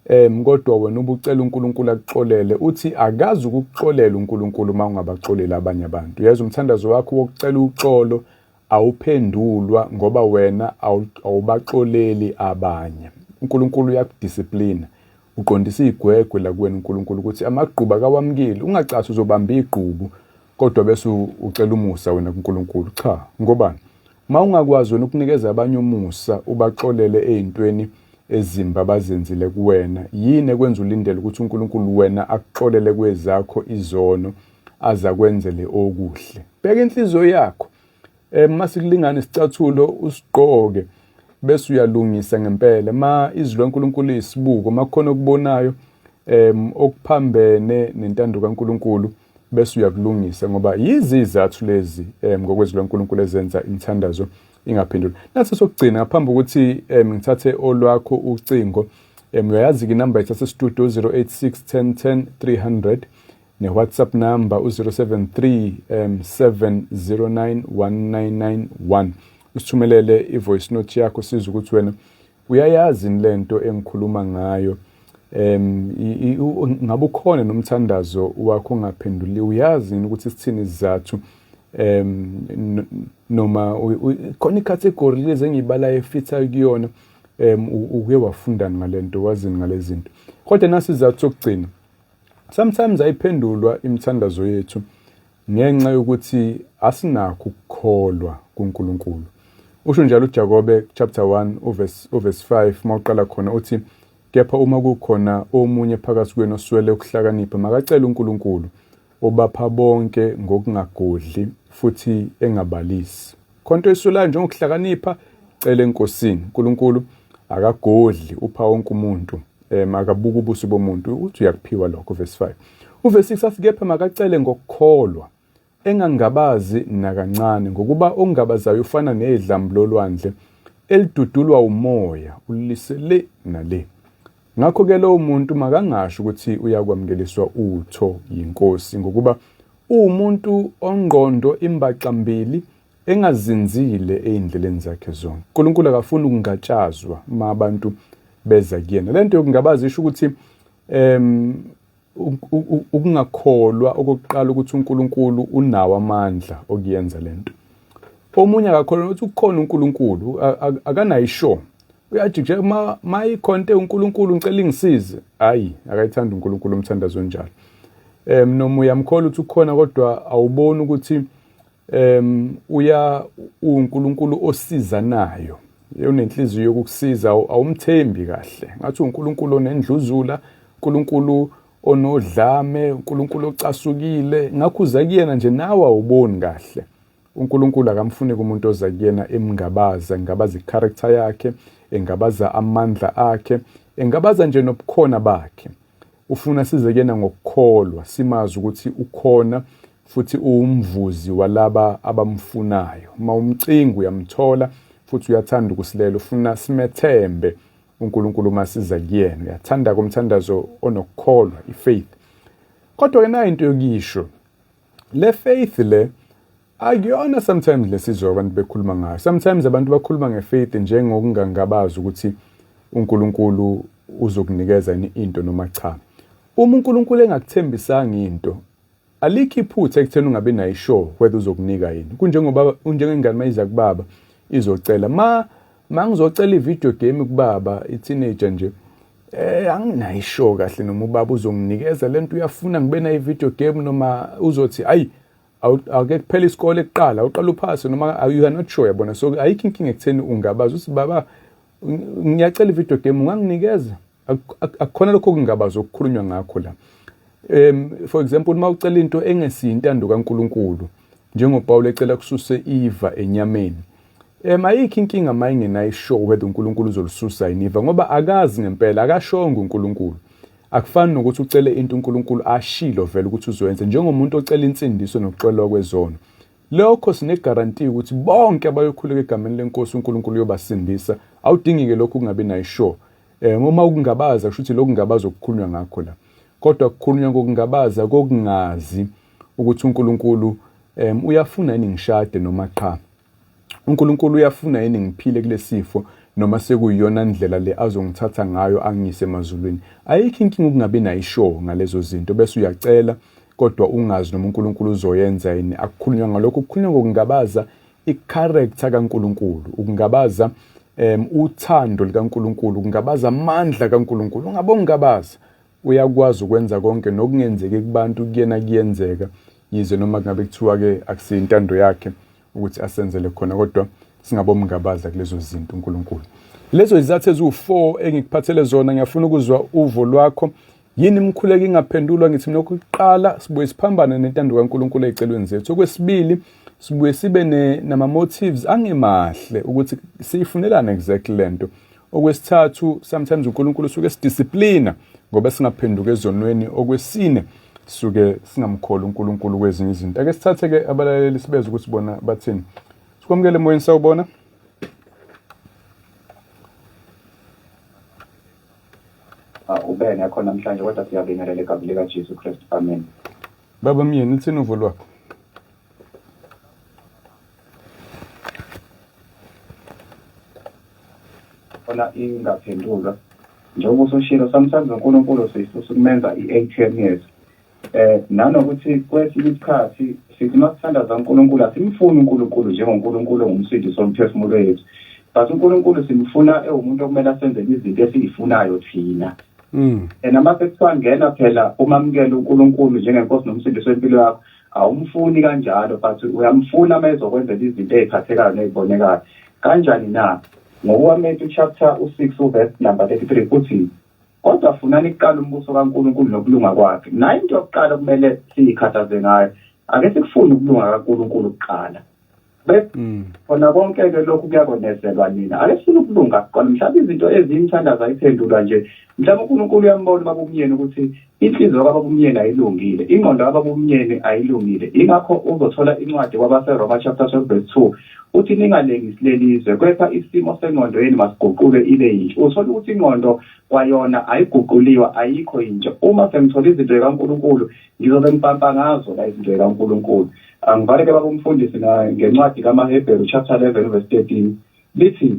em kodwa wena ubucela uNkulunkulu akuxolele uthi akazi ukuxolela uNkulunkulu uma ungabaxolela abanye abantu yazi umthandazo wakho wokucela uxolo awuphendulwa ngoba wena awubaxoleli abanye uNkulunkulu uyakudisciplina uqondisa igwegwe la kuwena uNkulunkulu ukuthi amagqubu akawamukeli ungacathi uzobamba igqubu kodwa bese ucela umusa wena kuNkulunkulu cha ngobani uma ungakwazi wena ukunikeza abanye umusa ubaxolele ezintweni ezimba bazenzile kuwena yini ekwenza ulindele ukuthi uNkulunkulu wena akuxolele kwezakho izono aze akwenzele okuhle bheka inhliziyo yakho um masikulingane isicathulo usigqoke bese uyalungisa ngempela ma izwi lankulunkulu liyisibuko makukhona okubonayo um okuphambene nentando kankulunkulu bese uyakulungisa ngoba yizizathu lezi um ngokwezwi lankulunkulu ezenza imithandazo ingaphenduli nathi sokugcina ngaphambi ukuthi um ngithathe olwakho ucingo um uyayazi-ke inamba yethu yasestudio 086 10 10 300 newhatsapp number u-073 um 709 1991 usithumelele i-voice note yakho siza ukuthi wena uyayazi yini le nto engikhuluma ngayo um ngabe ukhona nomthandazo wakho ongaphenduli uyazi yini ukuthi sithini izizathu um noma khona ikhathegori lezi engiyibalayo efithayo kuyona um uke wafundani ngale nto wazini ngale zinto kodwa nasi izizathu sokugcina Sometimes ayiphendulwa imithandazo yethu ngenxa yokuthi asinakho ukukholwa kuNkulunkulu. Usho njalo uJakobe chapter 1 uverse uverse 5 mawuqala khona uthi kepha uma kukhona omunye phakathi kwenu oswele ukuhlakanipha makacele uNkulunkulu obapha bonke ngokungagodli futhi engabalisi. khonto isulayo njengokuhlakanipha cela enkosini uNkulunkulu akagodli upha wonke umuntu um akabuka ubuso bomuntu uthi uyakuphiwa lokho verse 5 uverse 6 athi kepha makacele ngokukholwa engangabazi nakancane ngokuba ongabazayo ufana nedlambu lolwandle elidudulwa umoya ulise le nale Ngakho-ke lowo muntu makangasho ukuthi uyakwamukeliswa utho yiNkosi ngokuba uwumuntu ongqondo imbaxambili engazinzile ey'ndleleni zakhe zonke unkulunkulu akafuni ukungatshazwa uma abantu beza kuyena le nto yokungabaza isho ukuthi um ukungakholwa okokuqala ukuthi unkulunkulu unawo amandla okuyenza le nto omunye akakholwa ukuthi ukhona unkulunkulu akanayo isho uyajikija uma ma ikhonte uNkulunkulu ngicela ingisize hayi akayithanda uNkulunkulu umthandazo onjalo um noma uyamkhola ukuthi ukhona kodwa awuboni ukuthi um uya uNkulunkulu osizanayo unenhliziyo yokukusiza awumthembi kahle ngathi uNkulunkulu onendluzula uNkulunkulu onodlame uNkulunkulu ocasukile ngakho uza kuyena nje nawe awuboni kahle UNkulunkulu akamfuni kumuntu oza kuyena emngabaza, engabaza i-character yakhe, engabaza amandla akhe, engabaza nje nobukhona bakhe. Ufuna size kuyena ngokukholwa, simazi ukuthi ukhona futhi uwumvuzi walaba abamfunayo. Uma umcinga uyamthola futhi uyathanda ukusilela, ufuna simethembe uNkulunkulu uma siza kuyena. Uyathanda-ke umthandazo onokukholwa, i-faith. Kodwa-ke nayo into yokisho, le faith le akuyona sometimes lesizwe abantu bekhuluma ngayo sometimes abantu bakhuluma ngefaith njengokungangabazi ukuthi uNkulunkulu uzokunikeza yini into noma cha uma uNkulunkulu engakuthembisanga into alikho iphutha ekutheni ungabi nayo sure whether uzokunika yini kunjengoba njengengane mayiza kubaba izocela ma uma ngizocela i-video game kubaba i-teenager nje eh anginayisho kahle noma ubaba uzonginikeza lento uyafuna ngibe nayo i-video game noma uzothi ayi awuke kuphela isikole kuqala uqala uphase noma you are not sure yabona so ayikho inkinga ekutheni ungabaza uthi baba ngiyacela i-video game unganginikeza akukhona lokho kungabaza okukhulunywa ngakho la um for example uma ucela into engesiyo intando kaNkuluNkulu njengoPawulu ecela kususe iva enyameni um ayikho inkinga uma ingenayo isho whether uNkulunkulu uzolisusa yini iva ngoba akazi ngempela akashongo uNkulunkulu akufani nokuthi ucele into uNkulunkulu ashilo vele ukuthi uzoyenza njengomuntu ocela insindiso nokuxolwa kwezono lokho sinegaranti ukuthi bonke abayokhuleka egameni lenkosi uNkulunkulu uyobasindisa awudingike lokho kungabi nayo sure Eh uma ukungabaza kusho ukuthi lokungabaza okukhulunywa ngakho la. Kodwa kukhulunywa ngokungabaza kokungazi ukuthi uNkulunkulu um uyafuna yini ngishade noma qha uNkulunkulu uyafuna yini ngiphile kulesifo noma sekuyiyona ndlela le azongithatha ngayo angiyise emazulwini ayikho inkinga ukungabi nayo ishow ngalezo zinto bese uyacela kodwa ungazi noma uNkulunkulu uzoyenza yini akukhulunywa ngalokho kukhulunywa ngokungabaza icharacter kaNkulunkulu ukungabaza um uthando likaNkulunkulu ukungabaza amandla kaNkulunkulu ungabe ungabaza uyakwazi ukwenza konke nokungenzeki kubantu kuyena kuyenzeka yize noma kungabe kuthiwa-ke akusiyintando yakhe ukuthi asenzele khona kodwa singabomngabaza kulezo zinto uNkulunkulu lezo izathu eziwu-four engikuphathele zona ngiyafuna ukuzwa uvo lwakho Yini imkhuleko ingaphendulwa ngithi mina okokuqala sibuye siphambane nentando kaNkulunkulu ezicelweni zethu. Okwesibili sibuye sibe nama motives angemahle ukuthi siyifunelana exactly lento. Okwesithathu sometimes uNkulunkulu usuke sidisciplina ngoba singaphenduka ezonweni. Okwesine sisuke singamkholi uNkulunkulu kwezinye izinto. Ake sithathe ke abalaleli sibeze ukuthi bona bathini. Sikwamukele emoyeni sawubona. Ah, ube ngekho namhlanje kodwa siyabingelela egameni likaJesu Kristu. Amen. Baba myeni uthini uvo lwakho? Khona ingaphendulwa. Njengoba usushilo samsazi uNkulunkulu sisi usumenza i-ATM yethu. eh nanokuthi kwesinye isikhathi sithi masithandaza uNkulunkulu asimfuni uNkulunkulu njengoNkulunkulu ngumsindi somphefumulo wethu but uNkulunkulu simfuna ewumuntu okumele asenze izinto esizifunayo thina mm and uma sesangena phela uma mkele uNkulunkulu njengenkosi nomsindi sempilo yakho awumfuni kanjalo but uyamfuna uma ezokwenzela izinto eziphathekayo nezibonekayo kanjani na ngokukaMatthew chapter u6 verse number 33 uthi kodwa funani kuqala umbuso kaNkulunkulu nokulunga kwakhe nayo into yokuqala kumele siyikhathaze ngayo ake sikufune ukulunga kaNkulunkulu kuqala mm. khona konke-ke lokhu kuyakonezelwa nina ake sifune ukulunga kuqala mhlawumbe izinto eziyimthandazo ayiphendulwa nje mhlawumbe unkulunkulu uyambona uma kumyeni ukuthi Inhliziyo kababumyeni ayilungile, ingqondo kababumyeni ayilungile, yingakho uzothola incwadi kwabaseRoma chapter 12 verse 2 uthi ningalengisi lelizwe kepha isimo sengqondo yenu masiguquke ibe yintsha. Uthola ukuthi ingqondo kwayona ayiguquliwa ayikho yintsha. Uma sengithola izinto zikaNkulunkulu ngizobe ngibhampa ngazo la izinto zikaNkulunkulu. Angivale ke babumfundisi ngencwadi kamaHebheru chapter 11 verse 13 lithi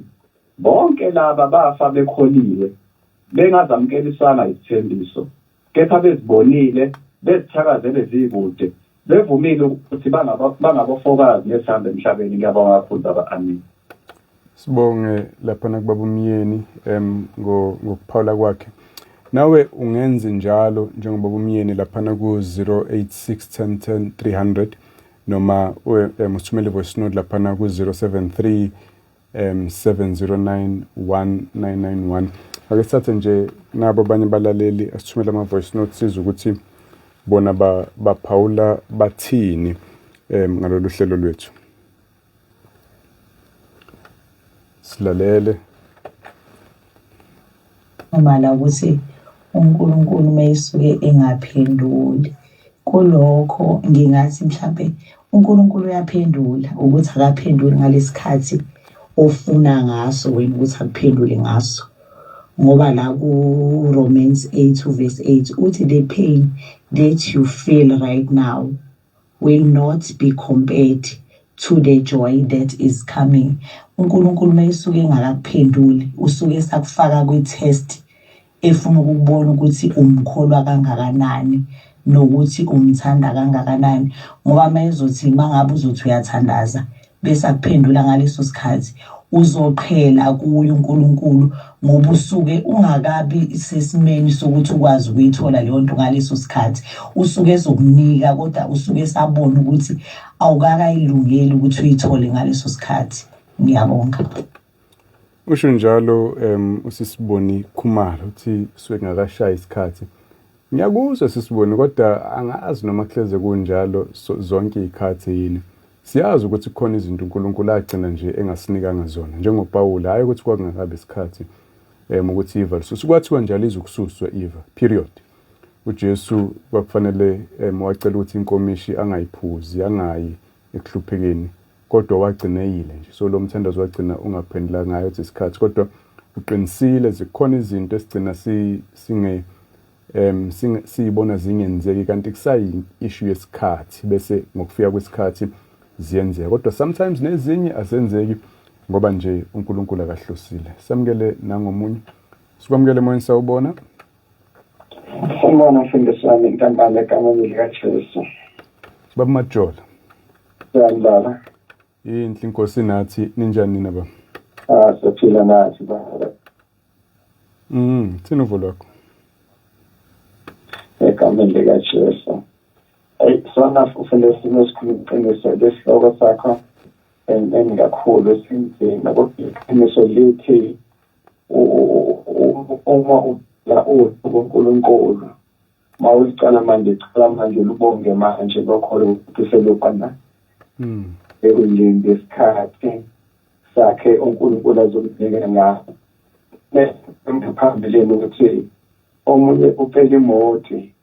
Bonke laba bafa bekholiwe, bengazamukelisanga izithembiso, kepha bezibonile, bezithakazele zikude, bevumile ukuthi bangaba, bangabofokazi nesihambe emhlabeni. Ngiyabonga kakhulu, Baba. Ameni. Sibonge lapha nakubaba umyeni em ngo- ngokuphawula kwakhe. Nawe ungenzi njalo njengoba umyeni lapha ku 0861010300 noma u- em, usithumele voice note lapha ku 073 um 709 1991 ake sithathe nje nabo abanye balaleli asithumele ama-voice note sizwe ukuthi bona baphawula bathini um ngalolu hlelo lwethu silalele Ngibala ukuthi uNkulunkulu uma esuke engaphenduli kulokho ngingathi mhlampe uNkulunkulu uyaphendula ukuthi akaphenduli ngalesikhathi ofuna ngaso wena ukuthi akuphendule ngaso ngoba la ku-Romans 8 verse 8 uthi the pain that you feel right now will not be compared to the joy that is coming uNkulunkulu mayisuke engakakuphenduli usuke esakufaka kwi-test efuna ukubona ukuthi umkholwa kangakanani nokuthi umthanda kangakanani ngoba mayezothi mangabe uzothi uyathandaza bese akuphendula ngaleso sikhathi uzoqhela kuye uNkulunkulu ngoba usuke ungakabi sesimeni sokuthi ukwazi ukuyithola leyo nto ngaleso sikhathi usuke ezokunika kodwa usuke esabona ukuthi awukakayilungeli ukuthi uyithole ngaleso sikhathi ngiyabonga Usho njalo um usisiboni khumalo uthi kusuke kungakashayi isikhathi ngiyakuzwa sisiboni kodwa angazi noma kuhleze kunjalo so, zonke iy'khathi yini siyazi ukuthi kukhona izinto unkulunkulu agcina nje engasinikanga zona njengopawula hhayi ukuthi kwakungakabi isikhathi um ukuthi iva lisusu kwathiwa nje alizukususwa iva period ujesu kwakufanele um wacela ukuthi inkomishi angayiphuzi angayi ekuhluphekeni kodwa wagcina eyile nje so lo mthandazo wagcina ungaphendula ngayo ukuthi isikhathi kodwa uqinisile zikhona izinto esigcina singe um siyibona zingenzeki kanti kusayi-issue yesikhathi bese ngokufika kwesikhathi ziyenzeka kodwa sometimes nezinye azenzeki ngoba nje unkulunkulu akahlosile samukele nangomunye sikwamukele emoyeni sawubona Sanibona mfundisi wami inkampani egameni likaJesu. Baba Majola. Yani baba. Yinhle inkosi nathi ninjani nina baba? Ah siphila nathi baba. Mm, thina uvo lwakho. Egameni likaJesu. Hey, sona ufele simo esikhulu iqiniso lesihloko sakho. and and kakhulu esinzima kodwa iqiniso lithi uma ucela uthi kuNkulunkulu uma ulicala manje cela manje lubonge manje lokholo ukuthi selubana hmm. ekulinde isikhathi sakhe uNkulunkulu azomnikela ngaso phambili ukuthi omunye ucela imoti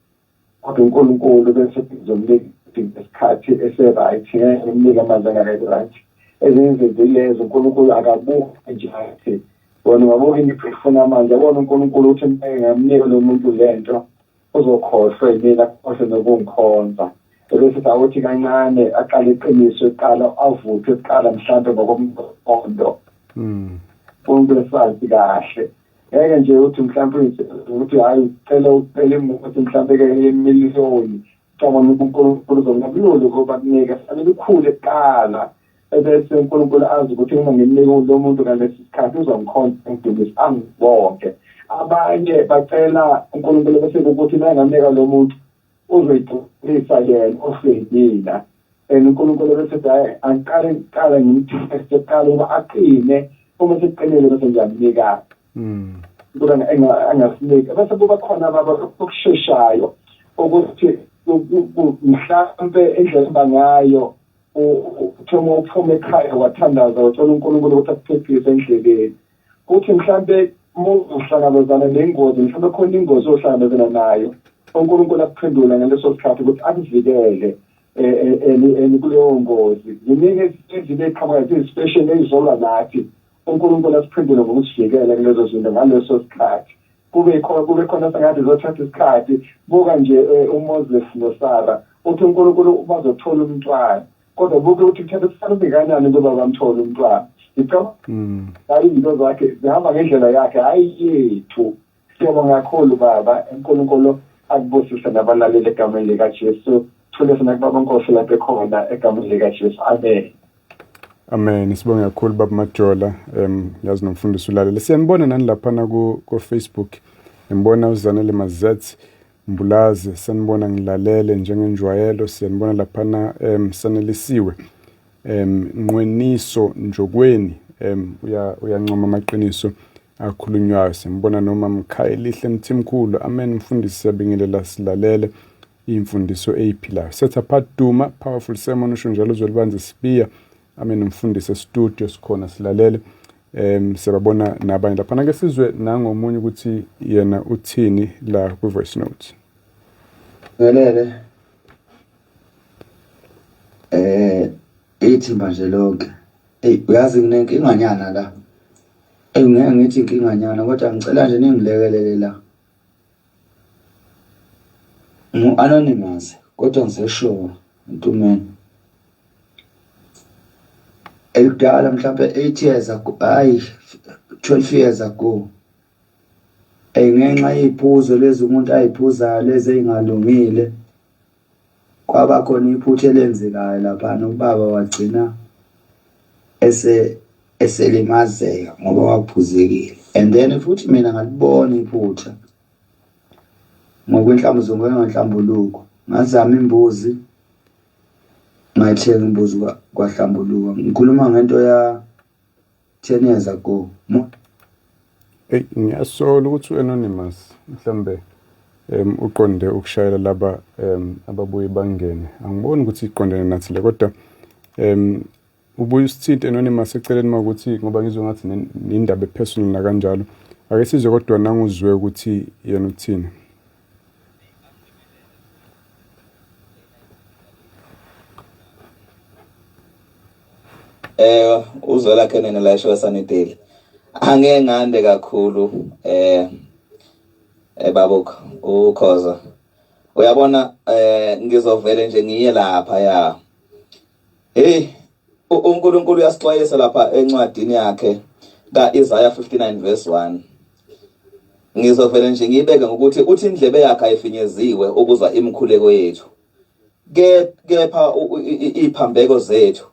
kodwa uNkulunkulu bese ngizomnika isikhathi ese-right ngeke ngimnike amanzi angaka-right ezinye izinto ilezo uNkulunkulu akabuki nje athi wena ungabuka into ifuna amanzi yabona uNkulunkulu ukuthi ngeke ngamnika lo muntu le nto uzokhohlwa yimina akhohlwe nokungikhonza ebese sawuthi kancane aqale iqiniso eqala avuthwe kuqala mhlawumbe ngokomqondo hmm. uNkulunkulu esazi kahle ngeke nje uthi mhlawumbe uyisebenzisa ukuthi hhayi cela ukuphela imothi mhlawumbe ke yemiliyoni cabanga ukuthi unkulunkulu uzongakuloli ukuba kunike fanele ukhule kuqala ebese unkulunkulu azi ukuthi uma ngimnike lo muntu ngalesi sikhathi uzongikhonza ngidumisa angibonke abanye bacela unkulunkulu bese ukuthi nangamnika lo muntu uzoyigcwalisa yena ofeyibila and unkulunkulu bese hayi angiqale kuqala ngimteste kuqala ukuba aqine uma sekuqinile bese ngiyamnika hmm. kuba angasiniki bese kuba khona baba okusheshayo ukuthi mhlampe indlela eba ngayo uthoma uphuma ekhaya wathandaza wacela unkulunkulu ukuthi akuphephise endleleni kuthi mhlampe muzohlangabezana nengozi mhlampe khona ingozi ohlangabezana nayo uNkulunkulu akuphendula ngaleso sikhathi ukuthi akuvikele kuleyo ngozi ziningi izinto eziqhamuka zizipesheni ezizolwa nathi uNkulunkulu asiphendule ngokusivikela kulezo zinto ngaleso sikhathi kube khona kube khona sengathi zothatha isikhathi buka nje uMoses noSara uthi uNkulunkulu bazothola umntwana kodwa buke ukuthi kuthatha kusalume kanjani ukuba bamthole umntwana ngicabanga mm. hayi izinto zakhe zihamba ngendlela yakhe hhayi yethu siyabonga kakhulu baba unkulunkulu akubusise nabalaleli egameni likajesu thule sina kubaba nkosi lapho ekhona egameni likajesu amen amen sibonge kakhulu baba majola um yazi nomfundisi ulalele siyanibona nani laphana ku-facebook ngibona uzanele mazet Mbulazi, Sanibona ngilalele njengenjwayelo siyanibona laphana um sanelisiwe um Nqweniso Njokweni um uya uyancoma amaqiniso akhulunywayo simbona noma Mkhayelihle Mthimkhulu amen mfundisi siyabingelela silalele imfundiso eyiphilayo. Setha Phat Duma, powerful sermon usho njalo uzwelibanzi sibiya Amen mfundisi studio sikhona silalele um siyababona nabanye laphana ke sizwe nangomunye ukuthi yena uthini la kwi voice note Welele eh ithi manje lonke hey uyazi nginenkinganyana la engeke ngithi inkinganyana kodwa ngicela nje ningilekelele la Ngu-anonymous kodwa ngiseshowa ntumeni elidala mhlawumbe eight years ago hayi twelve years ago um ngenxa yey'phuzo lezi umuntu ay'phuzayo lezi ey'ngalungile. kwaba khona iphutha elenzekayo laphana ubaba wagcina ese eselimazeka ngoba waphuzekile and then futhi mina ngalibona iphutha ngokwenhlambuzungu enganhlambuluko ngazama imbuzi ngayithenga imbuzi kwahlambuluka ngikhuluma ngento ya 10 years ago mo Hey ngiyasola ukuthi uanonymous mhlambe em uqonde ukushayela laba em ababuye bangene angiboni ukuthi iqondene nathi le kodwa em ubuye usithinte anonymous eceleni makuthi ngoba ngizwe ngathi nen- nindaba epersonal nakanjalo ake sizwe kodwa nanguzwe ukuthi yena uthini eh uzwela kenene la esho sanideli angeke ngande kakhulu eh eh babukho ukhoza uyabona eh ngizovele nje ngiye lapha ya Hey uNkulunkulu uyasixwayisa lapha encwadini yakhe kaIsaya 59 verse 1. Ngizovele nje ngibeke ngokuthi uthi indlebe yakhe ayifinyeziwe ukuzwa imikhuleko yethu. Ke kepha iphambeko zethu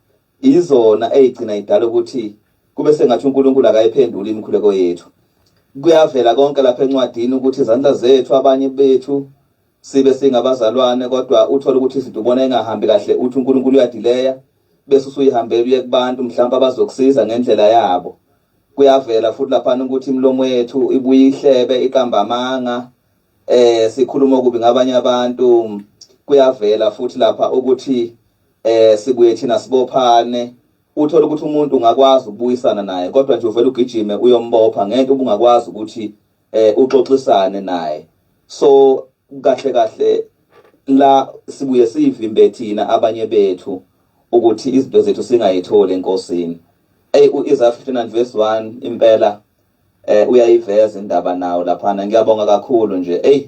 izona ezigcina idala ukuthi kube sengathi uNkulunkulu akayiphenduli imikhuleko yethu. Kuyavela konke lapha encwadini ukuthi izandla zethu abanye bethu sibe singabazalwane kodwa uthole ukuthi izinto ubona engahambi kahle uthi uNkulunkulu uyadileya bese usuyihambela uye kubantu mhlawumbe abazokusiza ngendlela yabo kuyavela futhi lapha ukuthi imilomo yethu ibuye ihlebe iqamba amanga eh sikhuluma okubi ngabanye abantu kuyavela futhi lapha ukuthi eh sibuye thina sibophane uthola ukuthi umuntu ungakwazi ukubuyisana naye kodwa nje uvela ugijime uyombopha ngento ubungakwazi ukuthi eh uxoxisane naye so kahle kahle la sibuye sivimbe thina abanye bethu ukuthi izinto zethu singayitholi enkosini ey uIsaiah 59 verse 1 impela eh uyayiveza indaba nawo laphana ngiyabonga kakhulu nje ey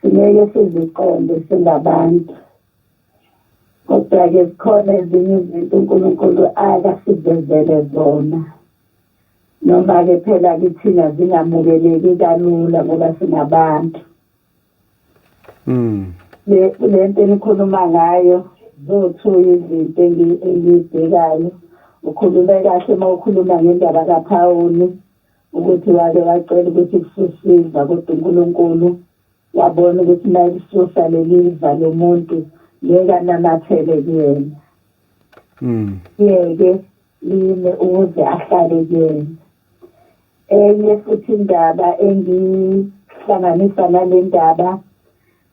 Singeke siziqonde singabantu. Kodwa-ke zikhona ezinye izinto uNkulunkulu akasivezele zona. Noma-ke phela kithina zingamukeleki kalula ngoba singabantu. Mm. Le le nto enikhuluma ngayo zothu izinto engiyibhekayo. Ukhulume kahle uma ukhuluma ngendaba kaPhawuli. ukuthi wake wacela ukuthi kususiza kodwa uNkulunkulu wabona ukuthi naye kususa leli iva lomuntu ngeke anamathele kuyena mm ngeke lime ukuze ahlale kuyena enye futhi indaba engihlanganisa nale ndaba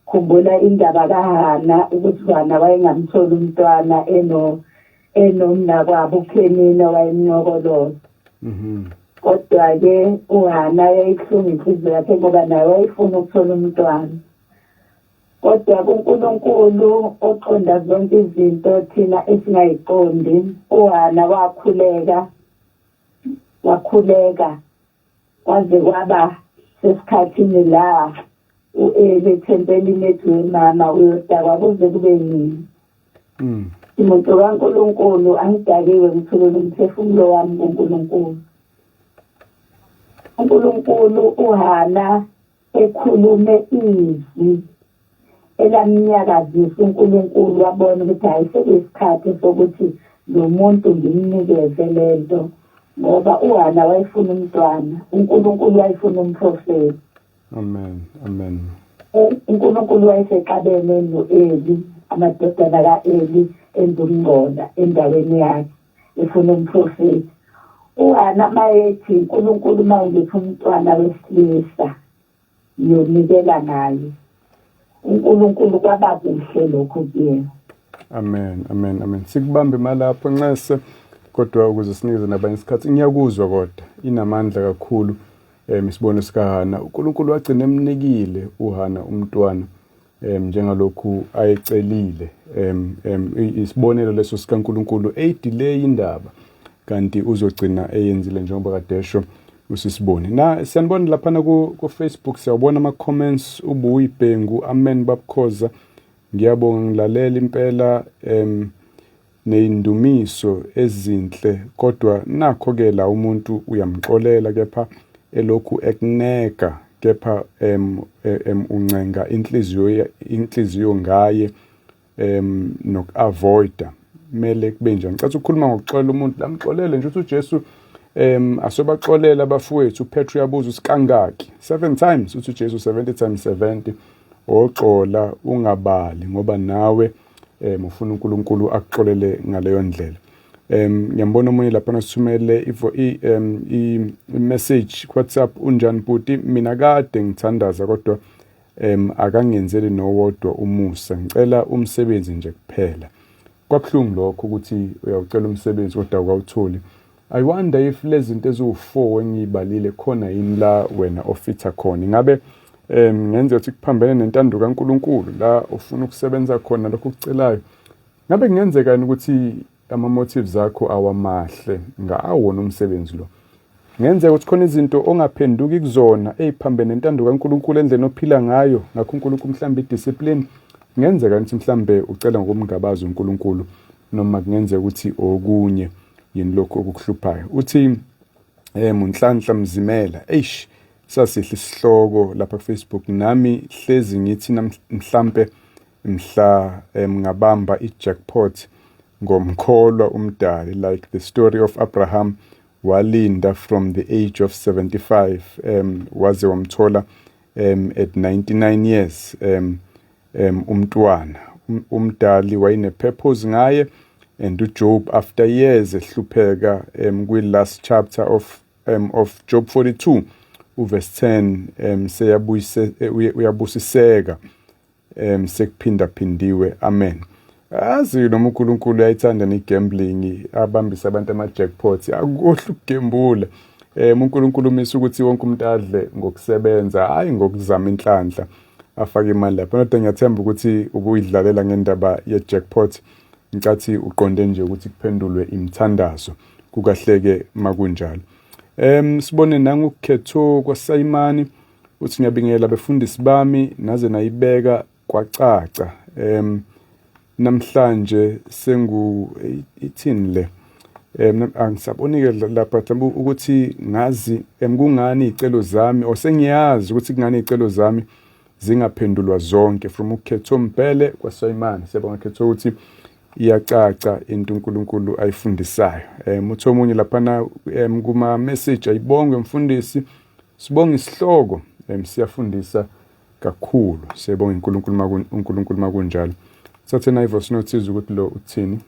Khumbula indaba kaHana ukuthi uHana wayengamtholi umntwana eno enomnakwabo uPhenina wayemnyokoloza. Mhm. Kodwa-ke uHana yayihlunga inhliziyo yakhe ngoba naye wayefuna ukuthola umntwana. Kodwa kuNkulunkulu oqonda zonke izinto thina esingayiqondi, uHana wakhuleka wakhuleka kwaze kwaba sesikhathini la u-eli ethempeli imedu wemama uyodakwa kuze kube nini mm. imoto kankulunkulu angidakiwe ngithulele umphefumulo wami kunkulunkulu unkulunkulu uhana Ekhulume izwi elamnyakazisa uNkulunkulu wabona ukuthi hhayi sekuyisikhathi sokuthi lo muntu ngimnikeze le nto ngoba uHana wayefuna umntwana uNkulunkulu wayefuna umprofeti amen amen uNkulunkulu wayesexabene no-Eli amadodana ka-Eli enza ukungcola endaweni yakhe ifuna umprofethi uhana mayethi unkulunkulu uma ungipha umntwana wesilisa ngiyonikela ngaye unkulunkulu kwaba kuhle lokho kuyena amen amen amen sikubambe malapho nxese kodwa ukuze sinikeze nabanye isikhathi ngiyakuzwa kodwa inamandla kakhulu um isibone sikahana unkulunkulu wagcina emnikile uhana umntwana um njengalokhu ayecelile um um isibonelo leso sikaNkulunkulu eyidileyi indaba kanti uzogcina eyenzile njengoba kadesho usisibone na siyanibona laphana ku-facebook siyawubona ama-comments ubuyibhengu amen babukhoza ngiyabonga ngilalela impela um neyindumiso ezinhle kodwa nakho ke la umuntu uyamxolela kepha elokhu ekuneka kepha em, em uncenga inhliziyo inhliziyo ngaye em nokuavoida mele kube njani ngicela ukukhuluma ngokuxolela umuntu lamxolele nje ukuthi uJesu um asobaxolela abafowethu uPetru yabuza usikangaki 7 times uthi uJesu 70 times 70 oxola ungabali ngoba nawe um ufuna unkulunkulu akuxolele ngaleyo ndlela um ngiyambona omunye lapha nasithumele um i-message kuwhatsapp unjani bhuti mina kade ngithandaza kodwa um akangenzeli nowodwa umusa ngicela umsebenzi nje kuphela kwabuhlungu lokho ukuthi uyawucela umsebenzi kodwa awukawutholi I wonder if lezinto eziwu4 engiyibalile khona yini la wena ofitha khona ingabe um ngenze ukuthi kuphambene nentando kaNkuluNkulu la ufuna ukusebenza khona lokho kucelayo ngabe kungenzeka yini ukuthi ama motives akho awamahle ngaawona umsebenzi lo ngenzeka ukuthi khona izinto ongaphenduki kuzona eziphambene nentando kaNkuluNkulu endleni ophila ngayo ngakho uNkuluNkulu mhlambe idiscipline ngenzeka ukuthi mhlambe ucela ngokumngabaza uNkuluNkulu noma kungenzeka ukuthi okunye yini lokhu okukuhluphayo uthi eh munhlanhla mzimela eish sasihle isihloko lapha kufacebook nami hlezi ngithi mhlampe mhla eh, ngabamba i-jackpot ngomkholwa umdali like the story of abraham walinda from the age of 75 um waze wamthola um at 99 years um um umntwana um, umdali wayene-purpose ngaye and ujob after years ehlupheka um kwi-last chapter of, um, of job 42 uverse 10 um seyabuyise uyabusiseka um sekuphindaphindiwe amen Azi noma uNkulunkulu uyayithanda ne-gambling abambise abantu ama-jackpots akukohle ukugembula um uNkulunkulu umisa ukuthi wonke umuntu adle ngokusebenza hhayi ngokuzama inhlanhla afake imali lapho nodwa ngiyathemba ukuthi ubuyidlalela ngendaba ye-jackpot ngicathi uqonde nje ukuthi kuphendulwe imithandazo kukahleke makunjalo um sibone nangukhetho kwasayimani uthi ngiyabingela befundisi bami naze nayibeka kwacaca um namhlanje sengu ithini le um angisabonike lapha mhlawumbe ukuthi ngazi um kungani iy'celo zami or sengiyazi ukuthi kungani iy'celo zami zingaphendulwa zonke from ukhetho mpele kwasayimane siyabonga khetho ukuthi iyacaca into uNkulunkulu ayifundisayo um uthi omunye laphana um kuma-message ayibongwe mfundisi sibonga isihloko um siyafundisa kakhulu siyabonga uNkulunkulu makun uNkulunkulu makunjalo sathe na ivoice note sizwe ukuthi lo uthini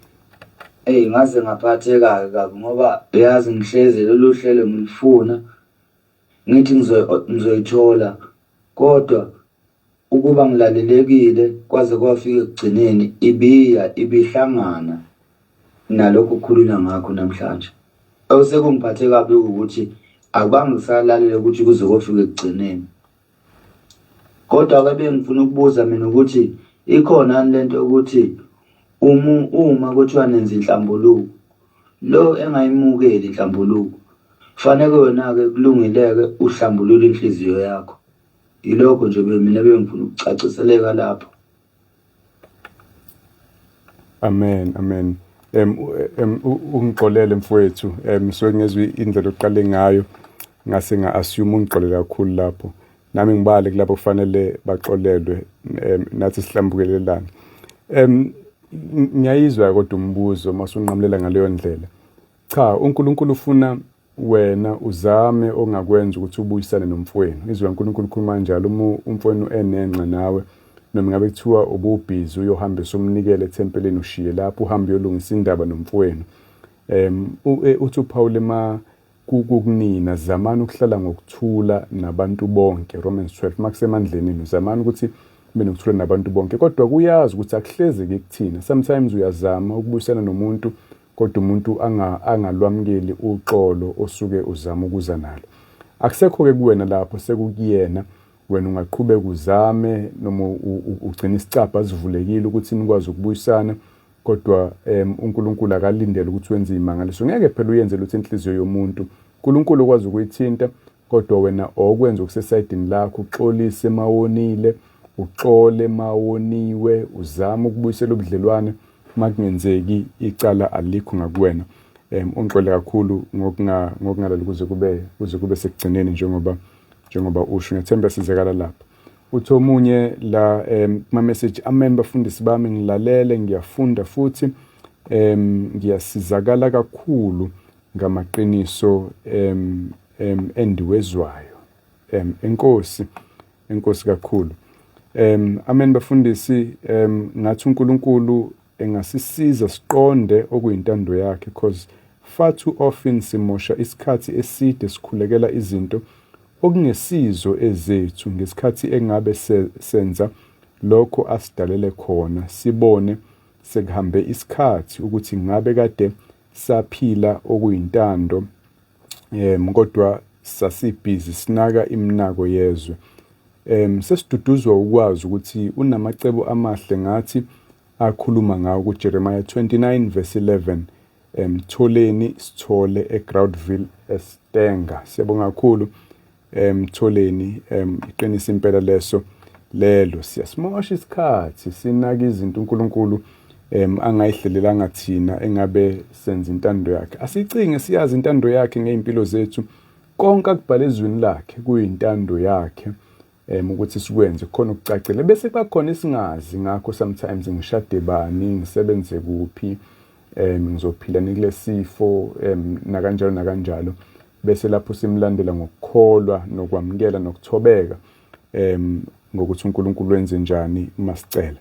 Hey ngaze ngaphatheka kabi ngoba uyazi ngihlezi lolu hlelo ngilifuna ngithi ngizo- ngizoyithola kodwa ukuba ngilalelekile kwaze kwafika ekugcineni ibiya ibihlangana nalokhu kukhulunywa ngakho namhlanje. Osekungiphathe kabi ukuthi akubange ngisalalele ukuthi kuze kofika ekugcineni. kodwa ke bengifuna ukubuza mina ukuthi ikhona yini lento yokuthi uma uma kuthiwa nenza inhlambuluko lo engayimukeli inhlambuluko faneke wena-ke kulungileke uhlambulule inhliziyo yakho yilokho nje mina bengifuna ukucaciseleka lapho Amen amen em em ungixolele mfowethu em so ngezwe indlela oqale ngayo ngase nga assume ungixolele kakhulu lapho nami ngibale kulabo kufanele baxolelwe em nathi sihlambukelelana em ngiyayizwa kodwa umbuzo masunqamulela ngaleyo ndlela cha uNkulunkulu ufuna wena uzame ongakwenza ukuthi ubuyisane nomfwenu izwi kaNkulunkulu ukhuluma njalo uma umfwenu enenxa nawe noma ngabe kuthiwa ububhizi uyohambisa umnikele ethempelini ushiye lapho uhambe uyolungisa indaba nomfwenu um uthi uphawule ma kukunina zamani ukuhlala ngokuthula nabantu bonke Romans 12 makusemandleni enu zamani ukuthi kube nokuthula nabantu bonke kodwa kuyazi ukuthi akuhlezeki kuthina sometimes uyazama ukubuyisana nomuntu kodwa umuntu anga angalwamukeli uxolo osuke uzama ukuza nalo akusekho ke kuwena lapho sekukuyena wena ungaqhubeka uzame noma ugcina isicabha sivulekile ukuthi nikwazi ukubuyisana kodwa um uNkulunkulu akalindele ukuthi wenze imangaliso ngeke phela uyenze lutho inhliziyo yomuntu uNkulunkulu okwazi ukuyithinta kodwa wena okwenza okusesayidini lakho uxolise mawonile uxole mawoniwe uzama ukubuyisela ubudlelwane makungenzeki icala alikho ngakuwena um ungixole kakhulu ngokungalali kuze kube kuze kube sekugcineni njengoba njengoba usho ngethemba sizakala lapho uthi omunye la um kuma-message amen bafundisi bami ngilalele ngiyafunda futhi um ngiyasizakala kakhulu ngamaqiniso um um endiwezwayo um enkosi enkosi kakhulu um amen bafundisi um ngathi uNkulunkulu engasisiza siqonde okuyintando yakhe cause far too often simosha isikhathi eside sikhulekela izinto okungesizo ezethu ngesikhathi engabe senza lokho asidalele khona sibone sekuhambe isikhathi ukuthi ngabe kade saphila okuyintando um kodwa sasibhizi sinaka iminako yezwe um sesiduduzwa ukwazi ukuthi unamacebo amahle ngathi akhuluma ngawo kuJeremiah 29 verse 11 emtholeni sithole eGroundville eStenga siyabonga kakhulu emtholeni um iqinisa impela leso lelo siyasimosha isikhathi sinaka izinto uNkulunkulu um angayihlelelanga thina engabe senza intando yakhe asicinge siyazi intando yakhe ngey'mpilo zethu konke akubhale ezwini lakhe kuyintando yakhe um ukuthi sikwenze khona ukucacile bese kuba khona esingazi ngakho sometimes ngishade bani ngisebenze kuphi um ngizophila nikule sifo um nakanjalo nakanjalo bese lapho simlandela ngokukholwa nokwamukela nokuthobeka em ngokuthi uNkulunkulu wenze njani uma sicela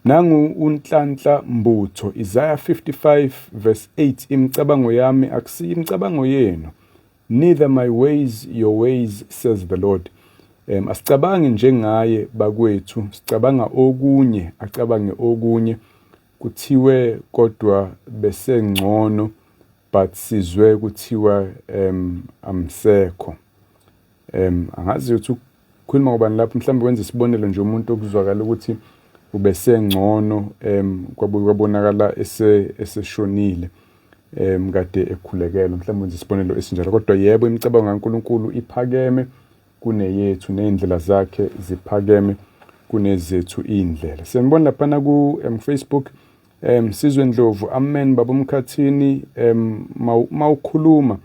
nangu unhlanhla mbutho Isaiah 55 verse 8 imicabango yami akusiyi imicabango yenu neither my ways your ways says the Lord um asicabangi njengaye bakwethu sicabanga okunye acabange okunye kuthiwe kodwa besengcono but sizwe kuthiwa um amsekho um angazi ukuthi ukhuluma ngobani lapho mhlawumbe wenza isibonelo nje umuntu okuzwakala ukuthi ubesengcono um kwabuye kwabonakala eseshonile um kade ekhulekelwa mhlawumbe wenza isibonelo esinjalo kodwa yebo imicabango kankulunkulu iphakeme kuneyethu ney'ndlela zakhe ziphakeme kunezethu iy'ndlela siyanibona laphana ku-facebook um, um sizwe ndlovu amen baba umkhathini um mawukhuluma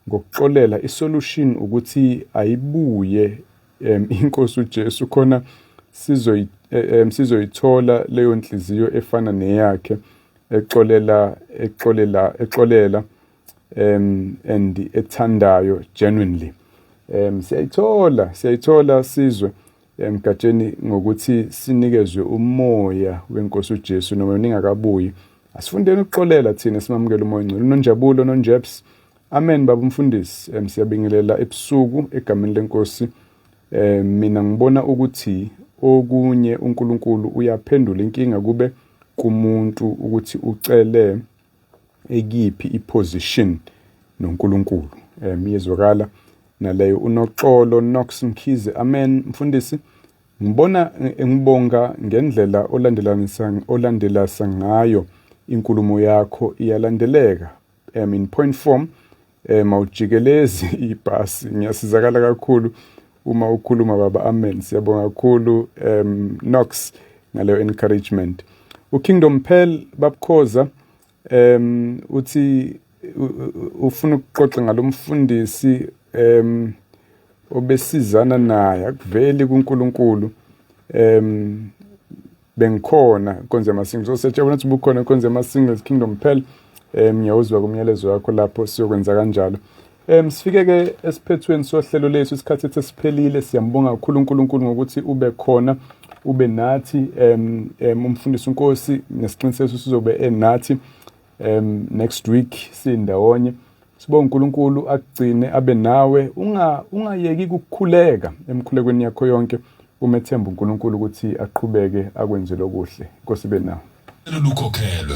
ngokuxolela isolution ukuthi ayibuye um inkosi uJesu khona sizoyi um sizoyithola leyo nhliziyo efana neyakhe exolela exolela exolela um and ethandayo genuinely um siyayithola siyayithola sizwe Emgatsheni ngokuthi sinikezwe umoya wenkosi uJesu noma ningakabuyi. Asifundeni ukuxolela thina simamukele umoya ongcwele. Unonjabulo nonjeps. Amen baba umfundisi. Em siyabingelela ebusuku egameni lenkosi. Eh mina ngibona ukuthi okunye uNkulunkulu uyaphendula inkinga kube kumuntu ukuthi ucele ekiphi iposition noNkulunkulu um iyezwakala naleyo unoxolo Knox Mkhize amen mfundisi ngibona ngibonga ngendlela olandelanisa olandelasa ngayo inkulumo yakho iyalandeleka um in point form eh mawujikelezi ibhasi ngiyasizakala kakhulu uma ukhuluma baba amen siyabonga kakhulu um Knox ngaleyo encouragement uKingdom Pearl babukhoza um uthi ufuna ukuxoxa ngalomfundisi um obesizana naye akuveli kuNkulunkulu um bengikhona konze ama singles so siyajabula ukuthi bukhona konze ama singles kingdom phela um ngiyawuzwa kumyalezo wakho lapho siyokwenza kanjalo um sifike ke esiphethweni sohlelo lethu isikhathi ethe siphelile siyambonga kakhulu uNkulunkulu ngokuthi ube khona ube nathi um um umfundisi uNkosi nesiqiniseko sizobe enathi um next week sindawonye Sibonga uNkulunkulu akugcine abe nawe unga ungayeki ukukhuleka emkhulekweni yakho yonke umethemba uNkulunkulu ukuthi aqhubeke akwenzele okuhle. Inkosi ibe nawe. Lukhokhelwe.